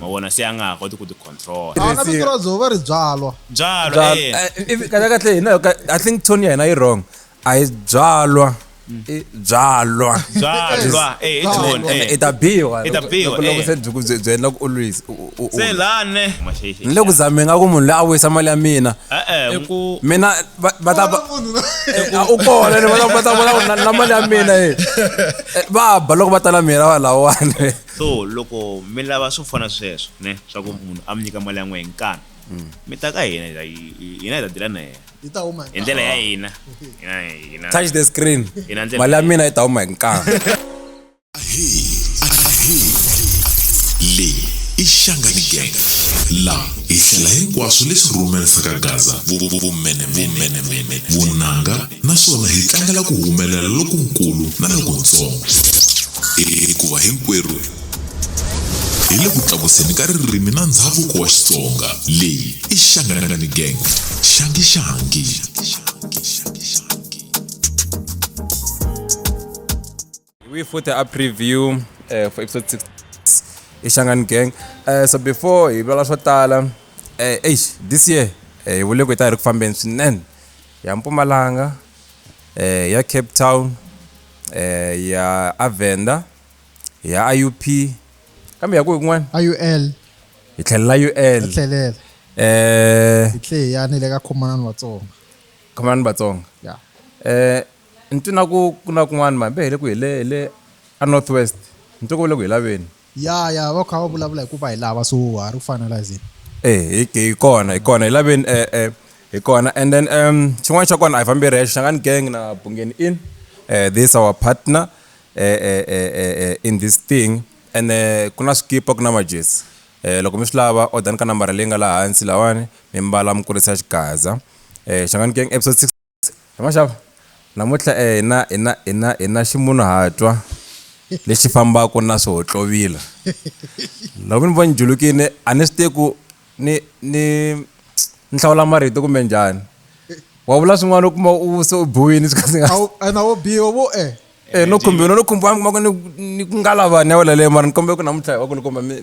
ma vona se a nga ha koti ku ti control a na vito ra dzova ri byalwa byalwa eh. kahle kahle hina i think tone ya hina yi wrong a yi byalwa byalwa byalwa eh i tone eh i ta biwa i ta biwa loko eh. se byi ku byi endla ku always se lane ni le ku zameni nga ku munhu loyi a wisa mali ya mina eh, eh, mina va ta u kona ni va ta vona na mali ya mina eh va ba loko va ta na mina va lawani So loko mi lava swo fana sweswo ne swa ku munhu a mi nyika mali ya n'we hi nkani mi ta ka hina hi- hi- hina hi ta dila na yena Hi ta huma hi hi ndlela ya hina Hina- hina- touch the screen hina ndlela mali ya mina yi ta huma hi nkani leyi i xangani gang laha hi hlela hinkwaswo leswi rhumerisaka gaza vumenemene vunanga naswona hi tlangela ku humelela lokunkulu na lokuntsongo hikuva hinkwerhu hi le ku tlakuseni ka ririmi na ndhavuko wa xitsonga leyi i xanganangani gang xangishangi We for the preview uh, for episode 6 i Shangan Gang. Uh, so before hi vula swo tala uh, eish this year eh, hi vule ku hi ta hi ri ku fambeni swinene ya Mpumalanga eh, ya Cape Town eh, ya Avenda ya IUP kambe ya ku yin'wana IUL hi tlhelela UL tlhelela eh hi tlhe ya ni le ka khomanani Vatsonga khomanani Vatsonga yeah eh Ni twi na ku ku na kun'wana mhani va hele ku hi le hi le a North West ni twe ku va le ku hi laveni. Ya ya va kha va vulavula hi ku va hi lava so ha ri ku finaliseni. E hi hi kona hi kona hi laveni e e hi kona and then um xin'wana xa kona a hi fambi hi ri hexe Shangani gang na Bungeni Inn e this our partner e e e e e in this thing ene ku na swikipa ku na majezi e loko mi swi lava odani ka nambara leyi nga la hansi lawani mi mbala mi kurisa xigaza e Shangani gang episode six Ma swi xava? Namuntlha hi na hi na hi na hi na ximunhuhatwa lexi fambaka na swihohlovila. Loko ni vo ni julukile a ni swi tivi ku ni ni ni hlawula marito kumbe njhani. Wa vula swin'wana u kuma u se u biwile swi kha swi nga A wu ena wo biwa vo e. Eh no khumbiwa no khumbiwa mi kuma ku ni ni ku nga lavani ya wena leyo mara ni kombela ku namuntlha hi va kulukumba mi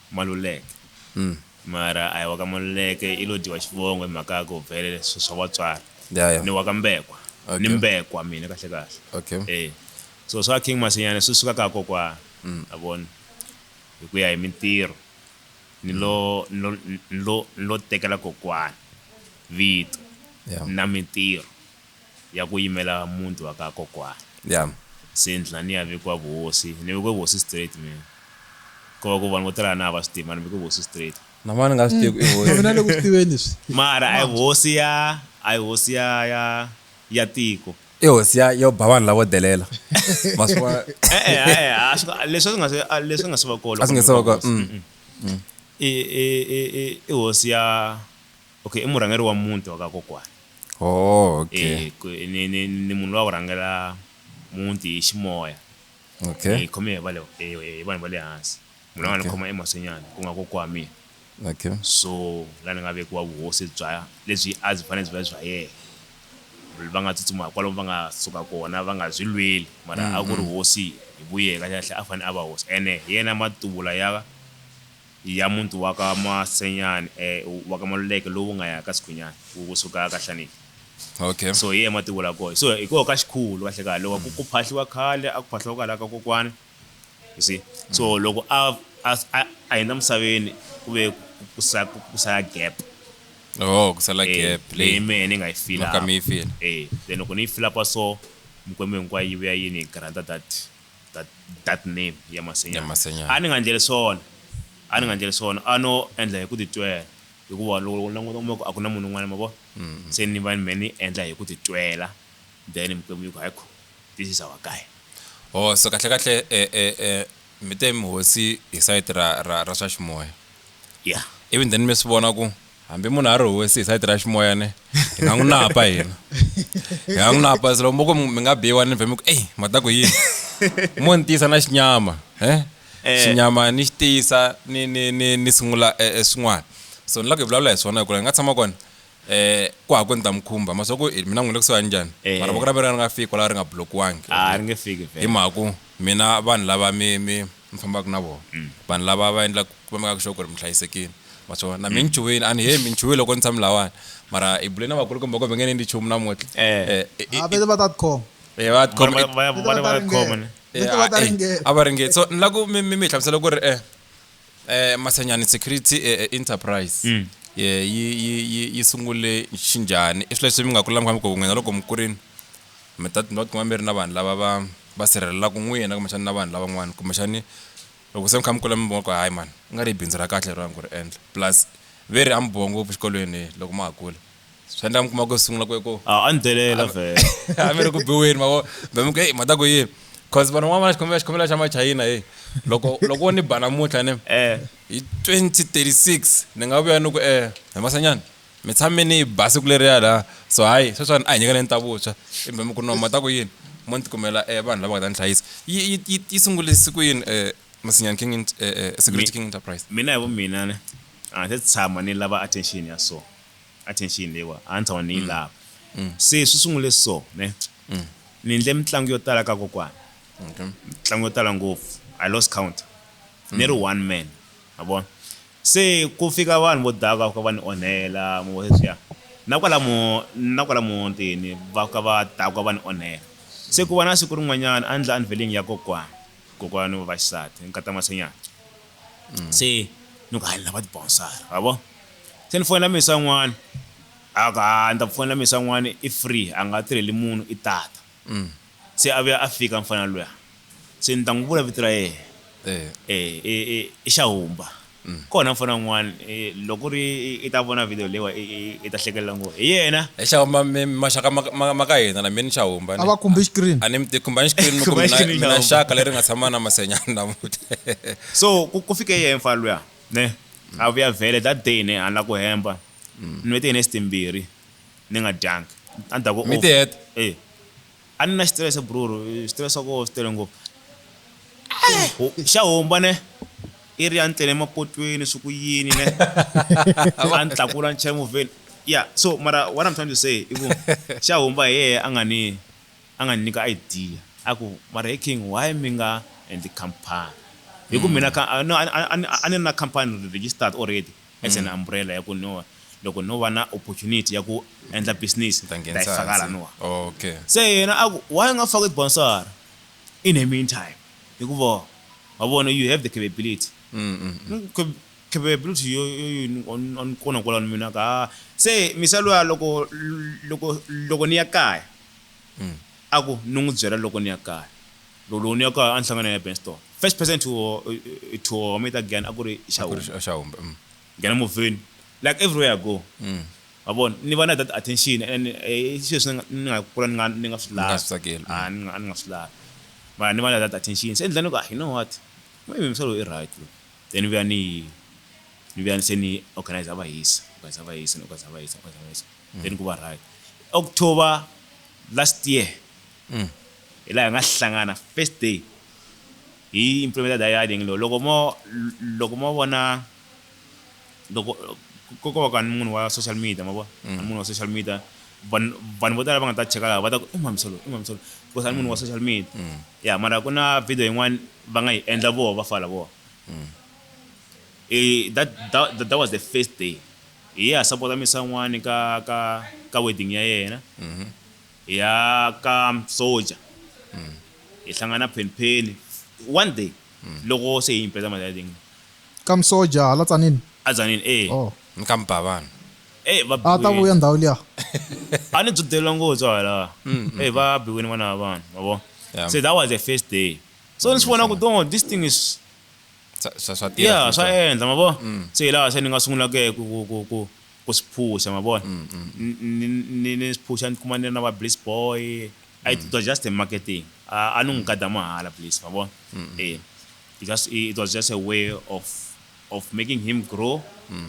Maluleke. Mara a hi wa ka Maluleke i lo dyiwa xivongo hi mhaka ya ku vhele swi swa vatswari. Ya ya. Ni wa ka Mbekwa. Okay. Ni Mbekwa mina kahle kahle. Okay. E. So swa King Masinyane swi suka ka ha kokwana. Ma vona. Hi ku ya hi mintirho ni lo ni lo ni lo ni lo tekela kokwana vito. Ya. Na mintirho. ya ku yimela muti wa ka kokwana. Yeah. Se ni tlhela ni ya vekiwa vuhosi, ni vekiwe vuhosi straight mina. Ko va ku vanhu vo tala a na ha va swi tivi mara ni veke vuhosi straight. Na mani nga swi tivi ku i hosi. Mina le ku swi tiveni swi. Mara a hi hosi ya a hi hosi ya ya ya tiko. I hosi ya yo ba vanhu lavo delela. Ma swi vona. E-e a-e a swi nga leswi a swi nga se a leswi nga se va ko loko. A swi nga se va ko. I i i i i hosi ya. Okay i murhangeri wa muti wa ka kokwana. Ooh okay. E ku ni ni ni munhu loyi a ku rhangela muti hi ximoya. Okay. Hi khome hi va le hi vanhu va le hansi. Munhu a nga ni khoma emaswenyana ku nga kokwa wa mina. Okay. So la ni nga vekiwa vuhosi bya lebyi a byi fanele byi va bya yena. Va nga tsutsuma kwalomu va nga suka kona va nga byi lweli mara a ku ri hosi hi vu yena kahle kahle a fanele a va hosi ene hi yena matubula ya. ya muti wa ka Masenyane eh, wa ka Maluleke lowu nga ya ka Sikhwinyane wu kusuka ka Hlaniki okay so hi yena mati vula koho so hi koho ka xikhulu kahle kahle loko ku phahliwa khale a ku phahliwa kwalaho ka kokwana you see so loko a a a- a hundza misaveni ku ve ku- ku sa- ku- ku sala gap oh ku sala Eh, gap leyi leyi mehe ni nga yi fila mhaka mi yi fila eh then loko ni yi fila pa so mikwembu hinkwayo yi vuya yi ni granta that that, that name ya masenyana Ya Masenyana. a ni nga ndleli swona a ni nga ndleli swona a no endla hi ku titwela hikuva loko ni languta kuma ku a ku na munhu un'wana ma vona se ni va ni me ni endla hi ku titwela then mikwembu yi ku haikho this is our guy oh so kahle kahle eh, eh, eh, mi te mihosi hi sayiti ra, ra, ra swa ximoya yeah even then mi swi vona ku hambi munhu a ri hosi hi sayiti ra ximoya ne hi nga n'wi napa hina hi nga n'wi napa se loko mo ku mi nga biwa ni vhe mi ku eyi ma ta ku yini mo ni tiyisa na xinyama e xinyama ni xi tiyisa ni ni ni ni sungula swin'wana so ni lava ku hi vulavula hi swona hikuva hi nga tshama kona eh ku ha ku ni ta mi khumba ma swa ku mina n'wina kusuhani njhani mara voko ra mina ri nga fiki kwalaho ri nga blokiwangi a ri nge fiki hi mhaka ku mina vanhu lava mi mi mi fambaka na vona mm. vanhu lava va endlaka va mekaka sure ku ri mi hlayisekile ma swona na mi nchuhile a ni he mi nchuhile loko ni tshami lawani mara i bule na vakulukumba kumbe nge ni endli nchumu namuntlha eh. eh, eh ah, vete va ta tikhoma eh, va tikhoma a va ringeti so ni la ku mi mi hlamusela ku ri eh eh masenyani security enterprise mm. yi yi yi sungule xinjhani i swilo leswi mi nga kula mi kha mi ku nghena loko mi kurini mi ta mi nga tikuma mi ri na vanhu lava va va sirhelelaka n'wina kumbexana na vanhu lavan'wana kumbexani loko se mi kha mi kula mi vona ku hayi mani i nga ri i bindzu ra kahle leriwani ku ri endla plus ve ri a mi biwa ngopfu xikolweni loko ma ha kula swi endla mi kuma ku sungula ku ku a a ni delela vhele a mi ri ku biweni mavo be mi ku heyi mhata ku yini cause vanhu van'wana va xikhomela xikhomela xa machayina heyi loko loko wo ni ba namuntlha ni hi 2036 ni nga vuya ni ku um he masanyana mi tshame ni ba siku leriya la so hayi sweswani a hi nyikeleni ta vuntshwa i mbhemi ku noma ta ku yini mo ni tikumela um vanhu lava nga ta ni hlayisa yi sungule siku yini um masinyani king um security king enterprise mina hi vu mina ne a ndzi se tshama ni lava attention ya so attention leyiwa a ni tshama ni yi mm. lava mm. se swi sungule so ne mm. ni ndle mitlangu yo tala ka kokwana mitlangu yo tala ngopfu i lost count ni ri one man ma vona Se ku fika vanhu vo daka va fika va ni onhela, mi vona sweswiya? Na kwalamo, na kwala muntini, va fika va dakwa va ni onhela. Se ku va na siku rin'wanyana a ni ndla unveiling ya kokwana, kokwana wa vaxisati, nkata Masenyana. Se ni ku, ha, ni lava tibonsari, wa vona. Se ni fonela mesa un'wana, a ku, ha, ni ta ku fonela mesa un'wana, i free, a nga tirheli munhu, i tata. Se a vuya a fika mfana luya, se ni ta n'wi vula vito ra yena. E, i, i, i Xahumba. Kona mfana un'wana, e, loko ku ri i, i ta vona video leyiwa i, i, i ta hlekelela ngo hi yena. Hi Xahumba, mi, mi maxaka ma, ma, ma ka hina la, mi ni Xahumba. A va khumbi xikirini. A ni mi tivi, khumbani xikirini mi ku Khumba mina, xikirini mina Xahumba. xaka leri nga tshama na Masenyani namuntlha. So, ku, ku fike yena mfana luya, ne, a vuya vhele that day ne a ni la ku hemba, ni vete hi nest timbirhi. ni nga dyanga a ni ta ku Mi off. tiheta? Eh. a ni na xitirese bruru xitirese swa koho swi tele ngopfu Ho- xa homba ne i ri ya ni tlele emapotweni swi ku yini ne a ni tlakula ni chela movheni ya so mara what i'm trying to say i ku xa homba hi yehe a nga ni a nga ni nyika idea a ku mara he king why mi nga endli company hi ku mina ka- a- no, a- a- a- a ni ri na company registered already as an umbrella ya ku no loko no va na opportunity ya ku endla business ta yi faka la no okay se yena a ku why nga faki sponsor in the meantime hikuva wa vona you have the capability mm -hmm. capability yo on kona kwala ni mina ka se misalo ya loko loko loko ni ya kaya mm. a ku ni n'wi byela loko ni ya kaya Lolo ni ya ka enhlanganweni ya Benston. First person to to me ta Gyan a ku ri Xahumba. Xahumba. Mm. Gyan movheni. Like everywhere I go. Mm. Ma vona ni va na that attention and eh, i swilo leswi ni nga kula ni nga ni nga swi lavi. Nga swi tsakeli. Mm. Ah, ni nga ni nga swi lavi. Mara ni va na that attention. Se endla ni ku ah, you know what? Maybe msa loyi i right loyi. Then vuya ni ni vuya se ni organize va hisa, organize va hisa, organize va hisa, organize va hisa. Mm. Then ku va right. October last year. Mm. hi laha hi nga hlangana first day hi implementa dialing lo loko mo loko mo vona loko ko ko ka munhu wa social media ma vona mm. munhu wa social media vanhu vanhu vo tala va nga ta cheka laha va ta ku i mamisolo i mamisolo because a munhu wa mm. social media mm. ya mara ku na video yin'wana va nga yi endla voho va fala voho eh, that, that, that was the first day hi ya support misa n'wani ka ka ka wedding ya yena mm -hmm. Hi ya ka Soja, hi hlangana Phenipheni one day loko se hi himpeta mali ya Ling. Ka Msoja hala Tzaneen? A Tzaneen, e. Oh. Ni ka Mbhavana. E va biwile. A ta vuya ndhawu liya. A ni dzudelela ngopfu hala. E va biwile vana va vanhu, ma vo. Se that was the first day. So ni swi vona ku no, this thing is. Swa tirha. Yeah, swa endla, ma vo. Se hi laha se ni nga sungulaka ku, ku, ku, ku. Ku swi phusha ma vona ni ni ni swi phusha ni kuma ni ri na va bliss boy a it was just a marketing a a ni n'wi gada mahala bliss ma vona e it just it was just a way of of making him grow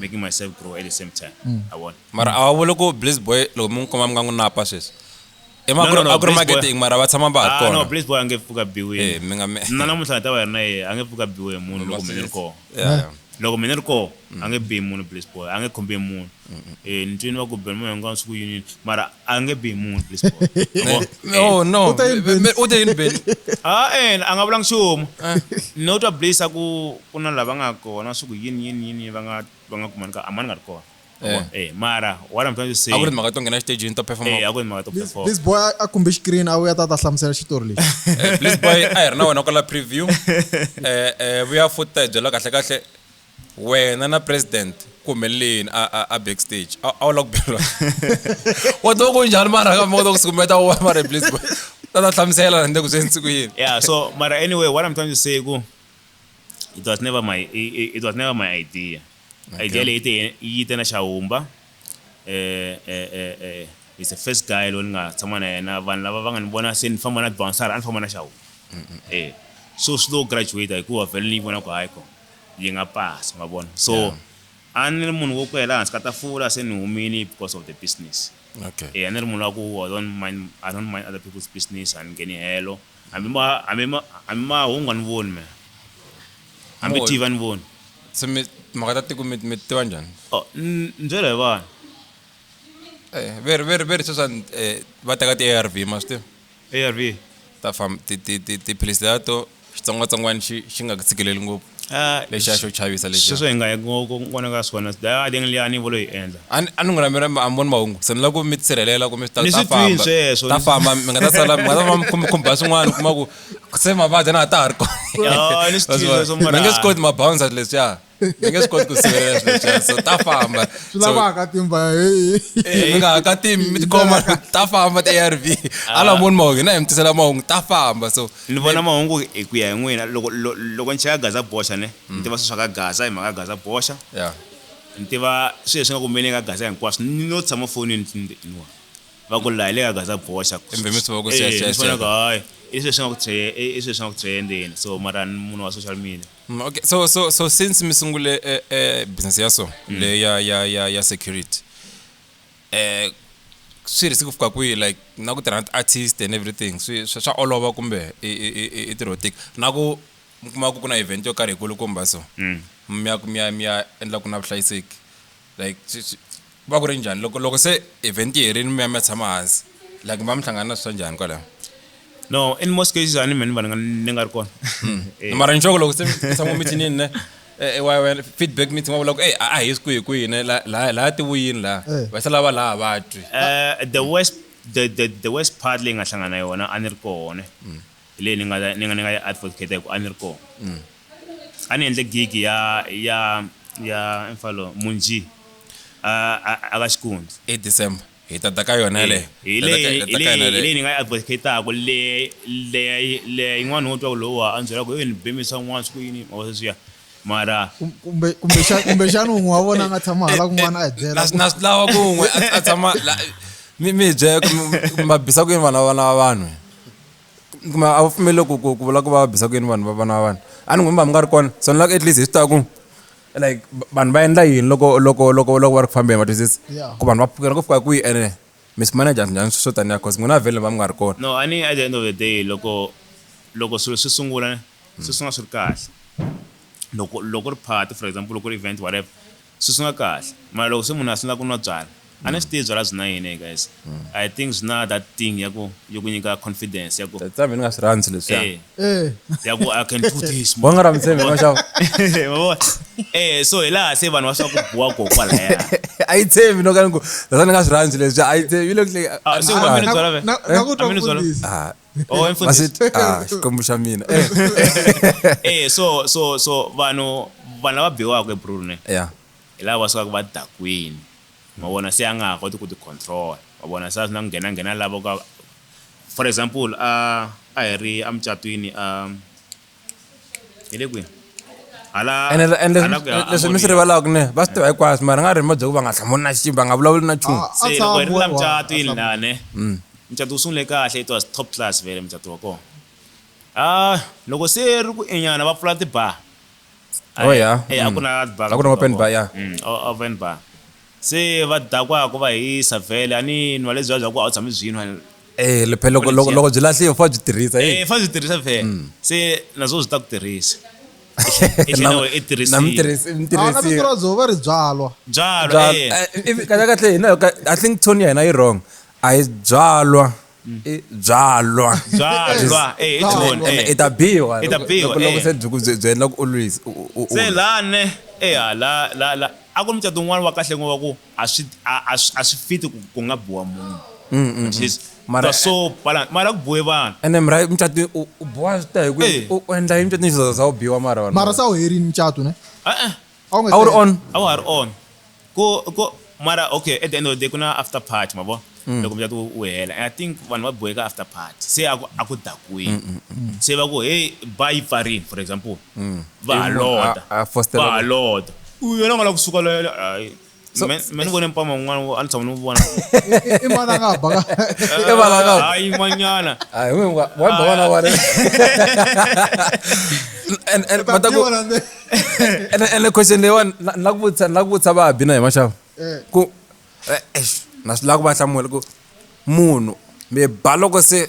making myself grow at the same time ma vona mara a wa vuli ku bliss boy loko mi n'wi kuma mi nga n'wi napa sweswi emagromageding mara va tshama va ha kona no blaze boy a nge pfuka biwi eh mi nga mi na namuntlha ta va yena yena a nge pfuka biwi hi munhu loko mina ri kona loko mina ri kona a nge bihi munhu blaze boy a nge khumbi munhu eh ni twini va ku bela munhu hinkwavo siku yini mara a nge bihi munhu blaze boy no no u te yini beli ah eh a nga vulanga xuma no twa blaze a ku ku na lava nga kona siku yini yini yini va nga va nga kumani ka amani nga ri kona Eh. eh mara what i'm trying to say a ku ri mhaka to nghena xitejini to perform eh a ku ri mhaka to perform this boy a kumbe screen a vuya ta ta hlamusela xitori lexi eh, please boy a hi ri na wena kwala preview eh eh vuya futhi ta hi byela kahle kahle wena na president ku humeleleni a a backstage a wu la ku bela wa to ku njhani mara ka mota ku sikumeta wa mara please boy ta ta hlamusela rende ku swi nsiku yini yeah so mara anyway what i'm trying to say ku it was never my it, it was never my idea Idea leyi te yi yi te na Xahumba eh eh eh eh he's the first guy loyi ni nga tshama na yena vanhu lava va nga ni vona se ni famba na bouncer a ni famba na Xahumba eh so swi lo graduate hikuva vhele ni yi vona ku hayi ko yi nga pasa ma vona so Yeah. a ni ri munhu wo kwela hansi ka tafula se ni humile because of the business okay eh a ni ri munhu wa ku I don't mind I don't mind other people's business a ni ngheni helo Ambi ma, ambi ma, ambi mahungu a ni voni me. Ambi Moyo. TV a ni voni. Se mi timhaka ta tiko mi mi ti tiva njhani Oh, n- ni byela hi vanhu. Eh, veri veri veri sweswa eh, va teka ti-arv ma swi tiva ARV. ta fam ti ti ti tiphilisi letiya to xitsongwatsongwana xi xi nga ku tshikeleli ngopfu Ah, lexiya xo chavisa lexiya. sweswo hi nga hi ngo- ku n'wana ka swona daya deng liya ni volo yi endla a ni- a ni n'wi rhambela mi- a mi voni mahungu se ni lava ku mi tisirhelela ku mi ta Ni ta swi twini famba sweswo, ta ni- famba mi nga ta sala mi nga ta va mi khum- khumba swin'wana u kuma ku se mavabyi na ha ta ha ri kona Ah, ni swi That's twile why. sweswo, mara- mi nge swi koti mabounsa leswiya mi nge swi koti ku sivelela swilo leswiya so ta famba swi So, lavaka timba heyi eh, mi nga ha ka timi mi tikhoma ta famba ti-arv ala moni mahungu hina hi mi tisela mahungu ta famba so Ni vona mahungu hi ku ya hi n'wina loko loko ni cheka Gaza boxa ne ni tiva swilo swa ka Gaza hi mhaka ya Gaza boxa ni tiva swilo leswi nga ku humeleni ka Gaza hinkwaswo ni lo tshama fonini va ku laha hi le ka Gaza boxa ni vona ku hayi i swilo leswi nga ku i swilo leswi nga ku trend-eni so mara ni munhu wa social media. Okay so so so since mi sungule business ya so leyi ya ya ya ya security. um swi risk ku fika kwihi like na ku tirha na ti-artist and everything swi swa swa olova kumbe i i i i- i tirho tika na ku mi kuma ku ku na event yo karhi hikulukumba so mi ya ku mi ya mi ya endla ku na vuhlayiseki like swi swi ku va ku ri njhani loko loko se event yi herile mi ya mi ya tshama hansi like mi va mi hlangana na swi swa njhani kwalaho no in most cases ani many bana ni ngar kon eh. mara nchoko lo kusem sango miti ni ne eh, eh, wa wa feedback miti ngwa lo eh ah yes kuyi kuyi ne la la la ti wuyin la wa sala ba la ba tu the west the the the west part le nga hlangana yona ani ri kone mm. le ni nga ni nga ni nga advocate ku ani ri ko mm. ani endle gig ya ya ya mfalo munji a a ka xikundzi e december hi ta ta ka yona yaleyo hi leyi ni nga yi advocataku leya yin'wana wo twa ku lowa a ni byela ku yo ni bemisa un'wana swi ku yini mava sweswiya mara kumbexana un'we wa vona a nga tshama hala kun'wana a hi byela na swi lava ku un'we a tshama mi mi bye ma bisa ku yini vana va vana va vanhu kuma a wu pfumeleli ku ku vula ku va bisa ku yini vanhu va vana va vanhu a ni n'wi mi va mi nga ri kona so ni lava ku at least hi swi ta ku like v- vanhu va endla yini loko loko loko loko va ri ku fambeni va twisisa Yeah. ku vanhu va pfukela ku fika kwihi ene mi swi manager njhani swo taniya cause n'wina vhele va mi nga ri kona no a ni at the end of the day loko loko swilo swi sungula ne, swi sungula swi ri kahle loko loko ri party for example loko ri event whatever swi sungula kahle mara loko se munhu a sungula ku nwa byala a ni swi tivi byala byi na yini hey guys i think byi na that thing ya ku yo ku nyika confidence ya ku tsa mina nga swi rhandzi leswiya eh, eh. ya ku i can do this wa nga rhandzi mina xava eh so hi laha se vanhu va swa ku buwa ko kwalaya a yi tshembi no ka ni ku tsa ni nga swi rhandzi leswiya a yi tshembi yi le ku ah, se wa mina byala ve na ku eh? twa mfundisi ah. oh mfundisi ah xikwembu xa mina eh. eh so so so vanhu vanhu lava biwaka ebrune yeah Hi lava va sukaka va dakwini, ma vona, se a nga ha koti ku ti control, ma vona, se a swi na ku nghena nghena lavo ka, for example a a hi ri a mucatwini a hi le kwini hala ene le- ene hala ku ya leswi- leswi mi swi Amoriya. rivalaka ne va swi tiva hinkwaswo mara nga ri hi mabyeku va nga hlamuli na xi va nga vulavuli na nchumu Ah, se loko hi ri la Atshama, mucatwini atshama. lane mucato wu sungule kahle it was top class vele mucato wa kona a loko se ri ku enyana va pfula tibar Oh, yeah. Eh, a ku Mm. na bar a ku na open bar ya Mm, o- open bar se va dakwa ku va hisa vhele a ni nwa lebyiya bya ku a wu tshami byi nwa eh le phela loko loko loko byi lahliwe fa byi tirhisa eh eh fa byi tirhisa vhele Mm. se naswo byi ta ku tirhisa i tlhela u- i tirhisiwa. na mutirhisi a na vito mutirhisi ra byo va ri byalwa byalwa eh. kahle kahle hina ka- i think tone ya hina yi wrong a yi byalwa i byalwa byalwa eh it's one eh i ta biwa i ta biwa loko se byi byi byi endla ku u lwisa se lane eh la la la a ku mucato un'wana wa kahle ngova ku a swi a swi fiti ku ku nga biwa munhu mm, mm, at mm. least mara so pala mara ku boye vanhu ene mara mucato u boha swi ta hi ku u endla yini mucato ni za u biwa mara mara sa u herini mucato ne eh eh How we How say- on? how are on ko ko mara okay at the end of the day kuna after party mabo Mm. loko mjatu u hela and i think vanhu va boheka after party se aku aku Mm, dakwini se va ku hey ba yi pfarini for example va Mm. Ivi munhu halota a- a fostela va ku- halota u yena nga la kusuka loyo ayi So- Me- me ni vone mpama un'wana wo- a ni tshama ni n'wi vona I- i mana nga ba ka I vana nga- hayi man'wanyana Hayi, we wa wa ba vana wale. And and Ta mataku tiva la nde. and and the question leyi wani na na ku vutisa na ku vutisa va bina hi maxava. Eh. Ku eh, eish, na swi lava ku va hlamula ku munhu mi ba loko se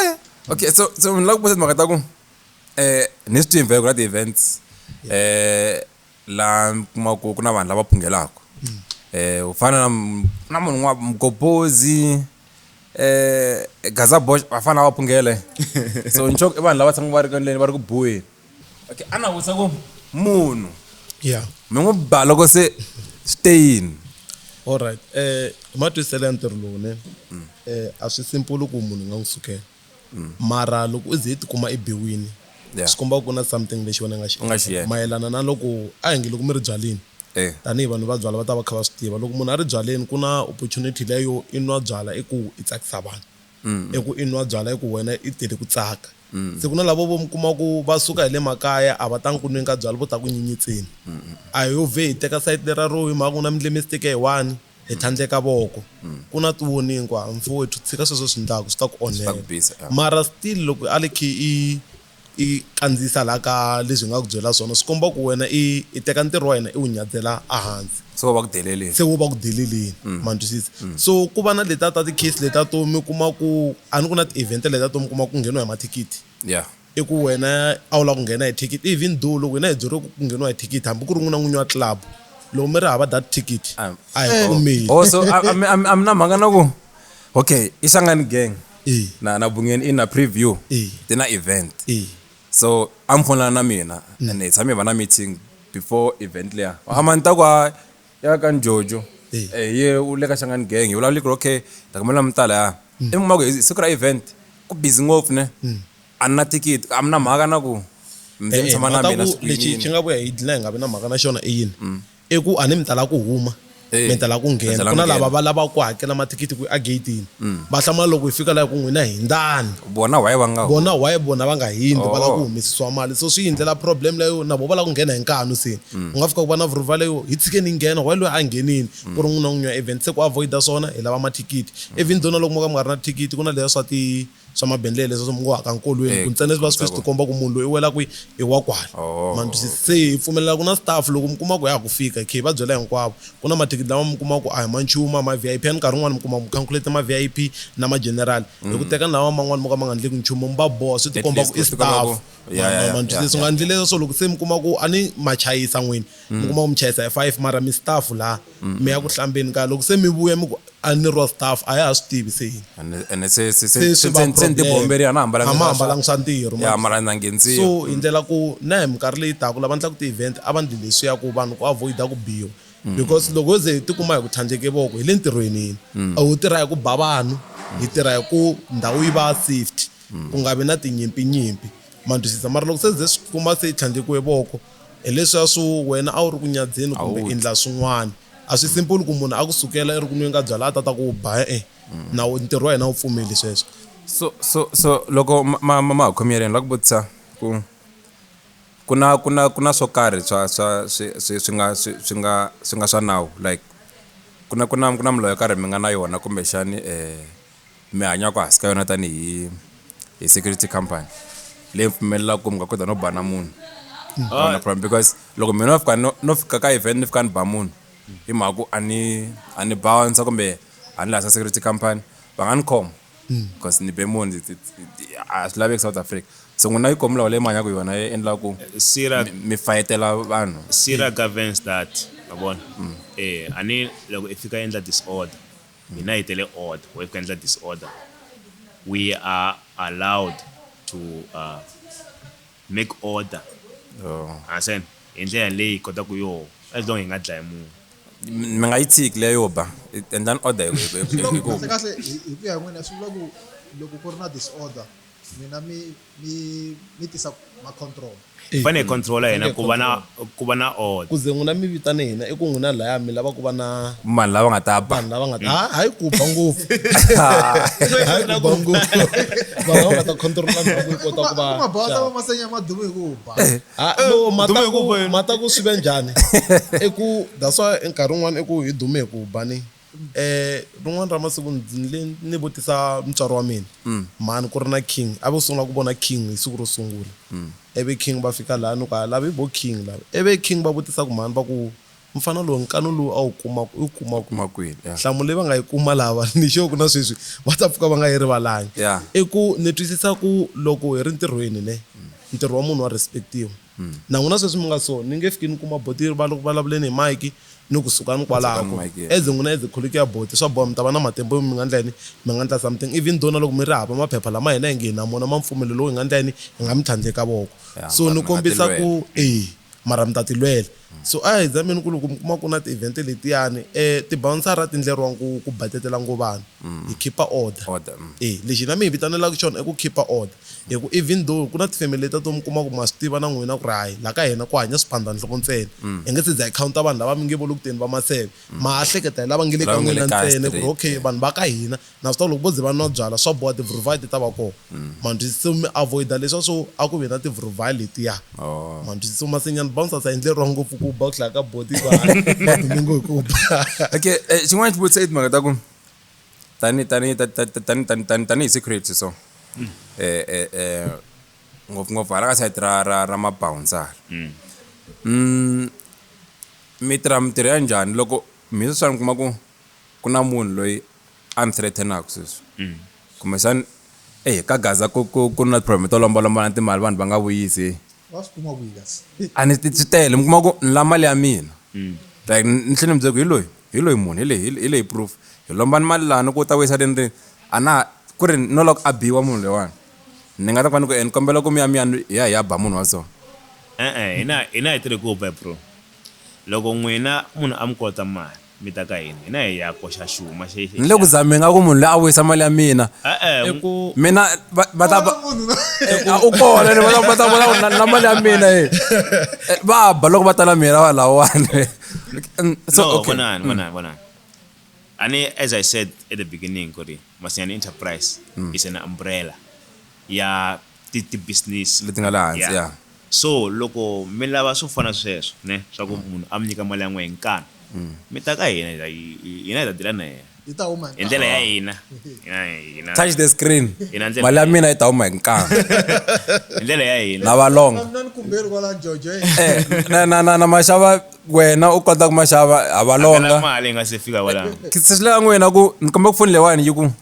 Eh, okay so so ni lava ku busa timhaka ta ku um ni swi tive ku na ti-events um laha mi kuma ku ku na vanhu lava phungelaka um u fana na m- na munhu n'wa mgobozi um gaza bosh va fana va phungele so nxoko i vanhu lava tshamaka va ri ka ndleni va ri ku buheni okay a na vutisa ku munhu yeah mi n'wi ba loko se swi te yini allright um eh, hi matwiselo ya ntirho lowu ne um a swi simpulu ku munhu nga n'wi sukela mm. mara loko u ze i tikuma i biwini swi komba ku na something lexi wena nga xi mayelana na loko a hi nge loko mi ri byaleni Eh. tanihi vanhu va byala va ta va kha va swi tiva loko munhu a ri byaleni ku na opportunity leyo i nwa byala i ku i tsakisa vanhu eku i nwa byala eku wena i tele ku tsaka. Se ku na lavo vo mi kuma ku va suka hi le makaya a va tangi ku nweni ka byala vo ta ku nyenyetseni. A hi yo vhe hi teka sayiti lera ro hi mhaka ku na mi ndle mistake hi one hi tlhandleka voko. Ku na ti warning ku ha mfowethu tshika sweswo swi ndlaku swi ta ku onhela. Mara still loko a li khi i I kandziyisa laha ka leswi hi nga ku byela swona, swi komba ku wena i i teka ntirho wa hina i wu nyadzela ehansi. Se wo va ku deleleni. Se wo va ku deleleni, ma ni twisisa. So ku va na letiya ta ti-case letiya to mi kuma ku, a ni ku na ti-event letiya to mi kuma ku ngheniwa hi mathikithi. Yeah. I ku wena a wu lava ku nghena hi thikithi, even though loko hina hi byeriwe ku ku ngheniwa hi thikithi hambi ku ri n'wina n'winyi wa club loko mi ri hava that thikithi a hi pfumeli. Boso a mi na mhaka na ku. okay isangani gang Eh. na na bungeni i na preview Eh. ti na event Eh. so a mi fonela na mina and hi tshame hi va na meeting before event leya hama ni ta ku a ya ka njojo Eh. Eh, ye u le ka xangani gang hi vulavule ku ri okay ta kumela mi tala ya i mi kuma ku hi siku ra event ku busy ngopfu ne a ni na thikithi a mi na mhaka na ku mi ze mi Eh, eh, tshama na mhaka mina ku siku lexi xi yinini nga vuya hi dlina hi nga vi na mhaka na xona i yini I ku a ni mi ta lava ku huma mi ta lava ku nghena ku na lava va lavaka ku hakela mathikithi ku a gate-ini va hlamula loko hi fika laha hi ku n'wina hindzani vona why va nga vona why vona va nga hindzi va lava ku humesisiwa mali so swi hi ndlela problem leyo na vona va lava ku nghena hi nkanu se u nga fika ku va na vurhuva leyo hi tshikeni hi nghena why loyi a nghenini ku ri n'wina n'winyi wa event se ku avoid-a swona hi lava mathikithi even though na loko mo ka mi nga ri na thikithi ku na leya swa ti swa mabendlele leswi mi ngo haka nkolweni eh, ku ntsena leswi va swi swi komba ku munhu loyi i wela kwi i wa kwala oh, ma ndzi se hi pfumelela ku na staff loko mi kuma ku ya ku fika khe va byela hinkwavo ku na mathikithi lama mi kuma ku a hi ma nchumu a ma VIP a ni nkarhi un'wana mi kuma ku calculate ma VIP na ma general hi ku mm. teka lawa man'wana mo ka ma nga ndleki nchumu mi va boha swi tikomba ku i staff ma ndzi leswi nga ndlile leswo loko se mi kuma ku a ni ma chayisa n'wini mi mm. kuma ku mi chayisa hi five mara mi staff laha mi ya ku hlambeni ka loko se mi vuya mi ku a ni ro staff a ya ha swi tivi se yini ene ene se se se se se swi va se- se ni problem. tibomberi a na hambalanga A ma hambalanga swa ntirho, ma- ya mara na nghendziwa so hi ndlela ku na hi minkarhi leyi taka lava endlaka ti-event a va ndli leswiya ku vanhu ku avoida ku biwa because loko ho ze hi tikuma hi ku tlhandleke voko hi le ntirhweni yini a ho tirha hi ku ba vanhu hi tirha hi ku ndhawu yi va safety ku nga vi na tinyimpinyimpi Ma twisisa, mara loko se ze swi kuma se i tlhandlekiwe voko, hi leswiya swo wena a wu ri ku nyadzeni kumbe i ndla swin'wana. A swi simple ku munhu a ku sukela i ri ku nweni ka byalwa a ta ta ku u ba e-e, nawu ntirho wa hina a wu pfumeli sweswo. So, so, so loko ma, ma, ma ha khomi yeleni ni lava ku vutisa ku ku na, ku na, ku na swo karhi swa, swa swi, swi, swi nga, swi, swi nga, swi nga swa nawu like ku na, ku na, ku na milawu yo karhi mi nga na yona kumbexani um. mi hanyaka hansi ka yona tanihi hi security company leyi pfumelelaka ku mi nga kota no ba na munhu ah. na problem because loko mina no fika no fika ka event ni fika ni ba munhu hi mhaka ku a ni a ni bouncer kumbe a ni lahla security company va nga ni khoma hmm. because ni be munhu a swi laveki south africa so n'wina yi komulawa leyi mi hanyaka yona yi endlaka ku eh, mi fayetela vanhu sira governs that ma vona um hmm. eh, a ni loko i fika endla disorder Hina hi tele order why kuendla disorder we are allowed to uh, make order understand hi ndlela leyi hi kota ku yoho as long hi nga dlayi munhu mi nga yi tshiki leyo ba endlani order hi ku ya hi n'wina swi vula ku loko ku ri na disorder n'wina mi mi mi tisa macontrol hi fane hi controla hina ku va na ku va na order ku ze n'wina mi vitane hina i ku n'wina laya mi lava ku va na vanhu lava nga ta ba vanhu lava nga ta ha hayi ku ba ngopfu hayi ku ba ngopfu vanhu lava nga ta controla ndhawu yi kota ku va mabawata va masenya madumu hi ku ba ha no mata ku mata ku swi ve njhani i ku that's why nkarhi wun'wana i ku hi dume hi ku ba ni Rin'wana ra masiku ni ni vutisa mutswari wa mina, mhani ku ri na King, a vo sungula ku vona King hi siku ro sungula. Ivi King va fika laya ni ku, ha lava hi vo King lava. Ivi King va vutisa ku mhani va ku, mufana lowu nkanu lowu a wu kuma u wu kuma kwihi? Nhlamulo leyi va nga yi kuma lava ni sure ku na sweswi va ta pfuka va nga yi rivalanga. I ku ni twisisa ku loko hi ri ntirhweni ne, ntirho wa munhu wa respect-iwa. Na n'wina sweswi mi nga so, ni nge fiki ni kuma boti yi ri, Va loko va vulavule ni Mike, ni ku sukani kwalaho, ku ri, As n'wina as kholichi ya boti, swa boha mi ta va na matimba yo mi nga ndla yini? Mi nga ndla something, even though na loko mi ri hava maphepha lama hina hi nge hi na mona ma mpfumelo lowu, hi nga ndla yini? Hi nga mi tlhandleka voko. So ni kombisa ku, E, mara mi ta ti lwela. So a hi zameni ku loko mi kuma ku na ti event letiyani ti bawunsara ti ndleriwa ku ku batetela ngo vanhu hi khipa order e lexi hina mi hi vitanelaka xona i ku khipa order hi ku even though ku na ti family letiya to mi kuma ku ma swi tiva na n'wina ku ri hayi la ka hina ku hanya swiphandhanhloko ntsena hi nge se za hi counter vanhu lava mi nge vo lokuteni va maseve ma ha hleketa hi lava nge le ka n'wina ntsena ku ri okay vanhu va ka hina Naswona loko vo ze va nwa byala, swa boha tivhuruvhali ti ta va kona. Ma ndzi twisisa? Mi avoid-a leswiya swo a ku ve na tivhuruvhali letiya. Ma ndzi twisisa? Masinyana bouncers a yi ndleriwa ngopfu ku ba ku hlaya ka body ku hayi, va dume ngo hi ku ba. Okay, eh, xin'wana xi vutisa i timhaka ta ku tani tani ta ta ta tani tani tani tanihi security so eh eh eh ngopfungopfu hala ka side ra ra ra mabouncer mi tirha mintirho ya njhani loko mi sweswiwani mi kuma ku ku na munhu loyi a ni threatenaka sweswi kumbexani eyi ka gaza ku ku ku na problem to lombalombalana timali vanhu va nga vuyisi va swi kuma kwihi kasi a ni ti swi tele mi kuma ku ni la mali ya mina like ni tlhela ni byela ku hi loyi hi loyi munhu hi leyi hi le- hi leyi proof hi lomba ni mali lani ku u ta vuyisa rini rini a na ha ku ri no lava ku a biwa munhu loyiwani ni nga ta ku ni ku e ni kombela ku mi ya mi ya ni hi ya hi ya ba munhu wa so e-e hina hina hi tirhe ku ba bro loko n'wina munhu a mi kolota mali Mi ta ka yini? Hina hi ya koxa xuma xi. Ni le ku zameni nga ku munhu loyi a vuyisa mali ya mina. E-e, ni ku. Mina va va ta va. A u kona ni va ta va ta vona ku na mali ya mina e. Va ba loko va ta na mina va lawani. So okay. No, vonani, vonani, vonani. A ni as I said at the beginning ku ri Masinyane Enterprise is an umbrella ya ti ti business leti nga laha hansi ya so loko mi lava swo fana sweswo ne swa ku munhu a mi nyika mali ya n'we hi nkani mi ta ka hina hina hi ta dila na yena yi ta huma hi ndlela ya hina hina touch the screen mali ya mina yi ta huma hi nkani hi ndlela ya hina na valonga na ni kumberi kwala jojo eh na na na maxava wena u kota ku maxava ha valonga mali nga se fika wala kisisela n'wina ku ni komba ku foni leyiwani yi ku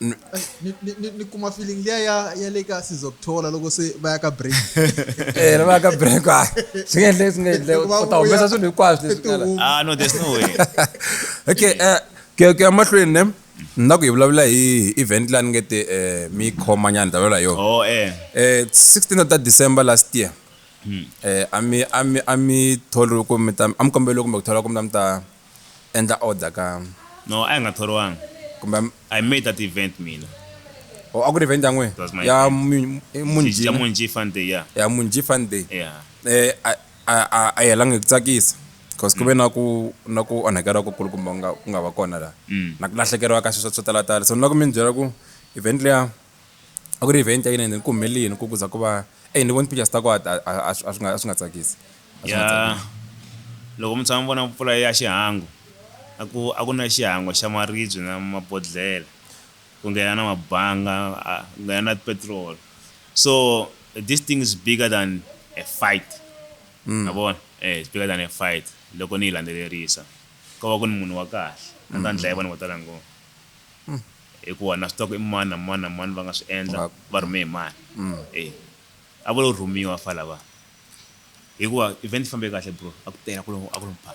ni kuma feeling liya ya ya le ka sizokuthola loko se va ya ka break eh va ya ka break a ah. swi nga endleki swi nga endleki u ta humesa swilo hinkwaswo leswi nga la ah no there's no way okay eh ke ke amahlweni ne ni na ku hi vulavula hi event la ni nge te eh, mi khoma nyana ni ta vulavula hi yona oh, eh. eh, 16 ta december last year hmm. eh, a mi a mi a mi tholi ku mi ta a mi kombele kumbe ku thola ku mi ta mi ta Endla order ka. No, a hi nga thoriwanga. Kumbe. I made that event mina. Oh, a ku ri event ya n'wehe? It was my event. Ya Mu, i Munjhi na. Ya Munjhi Fun Day, ya. Ya Munjhi Fun Day. Ya. Eh, a, a, a, a yi helanga hi ku tsakisa. Cause ku ve na ku, na ku onhakeriwa ku kulukumba ku nga, ku nga va kona laha. Na ku lahlekeriwa ka swilo swa, swo talatala. So ni lava ku mi ni byela ku event liya. A ku ri event ya yini ende ku humelele yini ku ku za ku va eyi ni vona ti-pictures ta kona a a a swi a swi nga a swi nga tsakisi a swi nga Ya, tsakisi. loko mi tshama mi vona mpfula ya xihangu a ku a ku na xihangu xa maribye na mabodhlele ku nghena na mabanga a ku nghena na petrol so this thing is bigger than a fight ma vona e it's bigger than a fight loko ni yi landzelerisa ko va ku ni munhu wa kahle a ni ta ni dlaya vanhu vo tala ngopfu. hikuva na swi tiva ku i mani na mani na mani va nga swi endla va rhume hi mani e a vo lo rhumiwa fa lava hikuva event yi fambe kahle bro a ku tela ku a ku ri mpha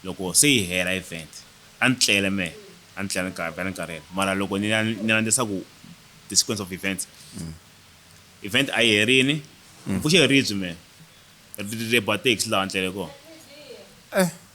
loko se yi hela event a ni tlele mehe a ni tlele ni karhi ni karhele mara loko ni ni landzisa ku the sequence of events event a yi herini pfuxe ribyi mehe ri ba taxi laha ni tlele kona eh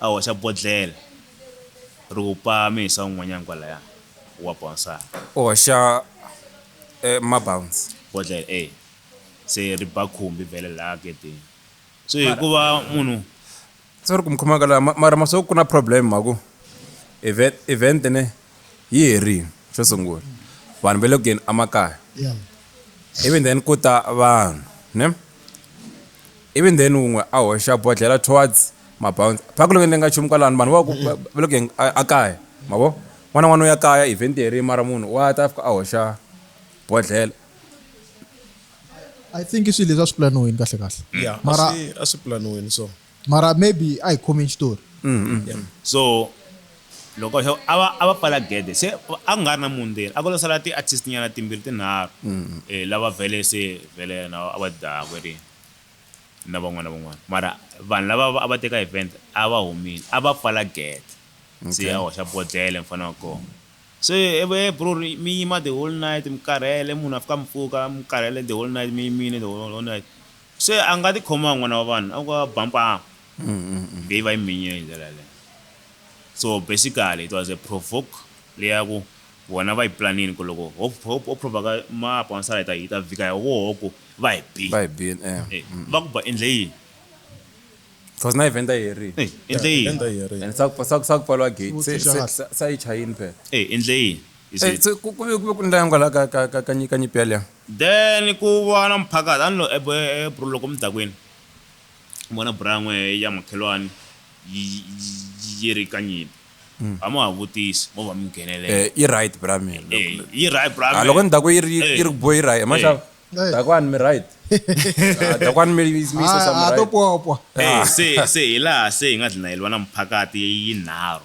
A hoxa bodlhela ri wupa mihisa un'wanyana kwalaya wa bawunsara. U hoxa e mabawunsi. Bodlhela e se ri ba khumbi vhele laya gedeni. So hikuva munhu. Sorry ku mi khoma ka la mara ma swo ku na problem mhaku event event ne. yi herile xo sungula vanhu va le ku yeni emakaya even then ku ta vanhu ne even then wun'we a hoxa bodlhela towards mabounce phaku loko ni nga nchumu kwalano vanhu va ku va le ku yeni ekaya ma vo n'wana n'wana u ya kaya event herile mara munhu wa ta fika a hoxa bodlhela i think i swilo leswi a swi pulaniwini kahle kahle mara a swi pulaniwini so mara maybe a hi khomi xitori so loko xo a va a va pfala gede se a ku nga ri na munhu ndzeni a ku lo sala ti-artist nyana timbirhi tinharhu um lava vhele se vhele yena a va dzaha kweri na van'wana na van'wana mara vanhu lava va- a va teka event a va humile a va pfala gede se Okay. a hoxa bodlele mfana wa kona se eve bro ri- mi yima the whole night mi karhele munhu a fika a mi pfuka mi karhele the whole night mi yimile the whole whole night Se a nga tikhoma n'wana wa vanhu a ku a ba mpaa kumbe yi va yi minyiwe hi ndlela yaleyo. So basically it was a provoke leyi ya ku vona va yi planile ku loko ho ho provaka mapa wansala hi ta hi ta vika hi woho ku va hi bile. Va hi bile eya. E va ku ba endle yini? Cause na event a yi herile. E endle yini? Event a yi herile. And sa ku sa ku sa ku pfariwa gate se Xivutiso xa se se a yi chayini phela. E endle yini? You E see. se ku ku ve ku ve ku ndla yini kwala ka ka ka ka nyi ka nyimpi yaleyo? Then ku va na muphakati a ni lo eb bro loko mi ta kwini ni vona buran'we ya makhelwani yi yi yi ri ka nyimpi a mo ha vutisi mo va mi nghenelele Eh yi right bra mina loko eyi yi right bra ha loko ni ta ku yi ri yi ri ku bo yi right ma xava Hey. dakwani mi right Ah, dakwani mi mi mi sesa mi ha to right popo eyi se se hi laha se hi nga dlina hi lwa na muphakati yinharhu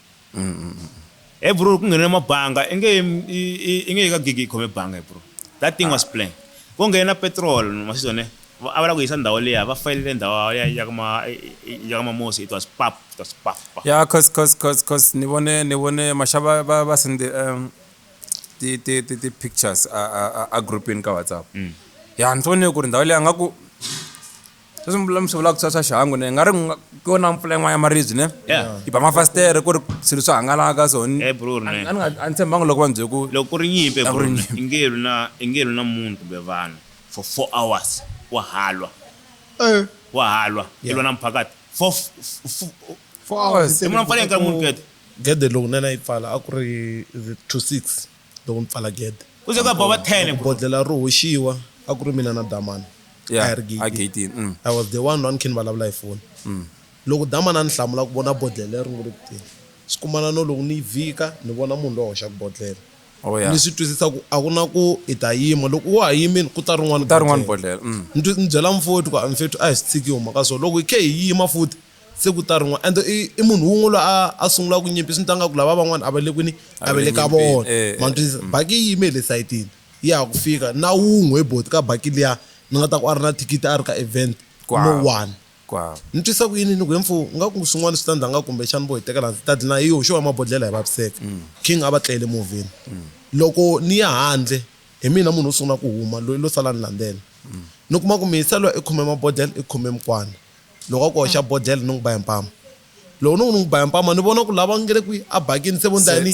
Hey bro ku nghena mabanga i nge i nge ka gigi khome banga hey bro that thing was planned ko nghena petrol masizwa ne a va la ku yisa ndhawu leya va fayelele ndhawu ya ya kuma ya kuma mosi it was pap it was pap pap ya cause cause cause cause ni vone ni vone mashava va va sende um ti ti ti ti pictures a a a groupini ka WhatsApp mm. ya ni vone ku ri ndhawu leyi a nga ku sweswi mi mi swi vulaka swa swa xihangu ne nga ri nga- ku yona mpfula yin'wana ya maribye ne Yeah. yi ba mafasitere ku ri swilo swi hangalaka so ni- Eh, bro, a- ne. a ni nga- a ni tshembanga loko va ni byele ku loko ku ri nyimpi A ku ri bro, nyimpi. ingelu na ingelu na munhu kumbe vanhu for four hours wa halwa Eh, wa halwa i lwa na mphakati for f- f- f- four hours. se munhu a pfale nkarhi munhu kete gede loko nena yi pfala a ku ri the to six loko mi pfala gede Ku ze ku ya boba tele, Loko bro. bodlhela ri hoxiwa a ku ri mina na damani Yeah, a hi ri a gate-ini. gate-ini, mm. i was the one a ni khe ni vulavula hi foni loko damani a ni hlamula ku vona bodlhela leri ngo le ku teni swi kumana no loko ni yi vhika ni vona munhu loyi a hoxaka bodlhela Oh, yeah. ni swi twisisa ku a ku na ku i ta yima loko wa ha yimile ku ta rin'wana ta rin'wana bodlhela. bodlhela mm. ni twi- ni byela mfowethu ku a mfethu a hi swi tshiki hi huma ka so loko hi khe hi yima futhi Siku ta rin'wana and i i munhu wun'we loyi a a sungula ku nyimpi swi ni ta nga ku lava van'wana a va le kwini a va le ka vona eh, ma eh. twisisa mm. baki yi yime hi le sayitini ya ha ku fika na wun'we hi boti ka baki liya ni nga ta ku a ri na thikithi a ri ka event no one ni twisa ku yini ni ku hemfu nga ku swin'wana swi ta ndza nga kumbexana vo hi tekela ndzi ta dlina hi yo xo va mabodlhela hi vaviseka mm. king a va tlele movheni mm. loko ni ya handle hi mina munhu wo sungula ku huma loyi lo sala ni landzela ni kuma ku miyiselo i khome mabodlhela i khome mukwana Loko a ku hoxa bodlhela ni n'wi ba hi mpama. Loko ni ku ni n'wi ba hi mpama ni vona ku la va nge le kwihi a bakini se vo ni ta ya ni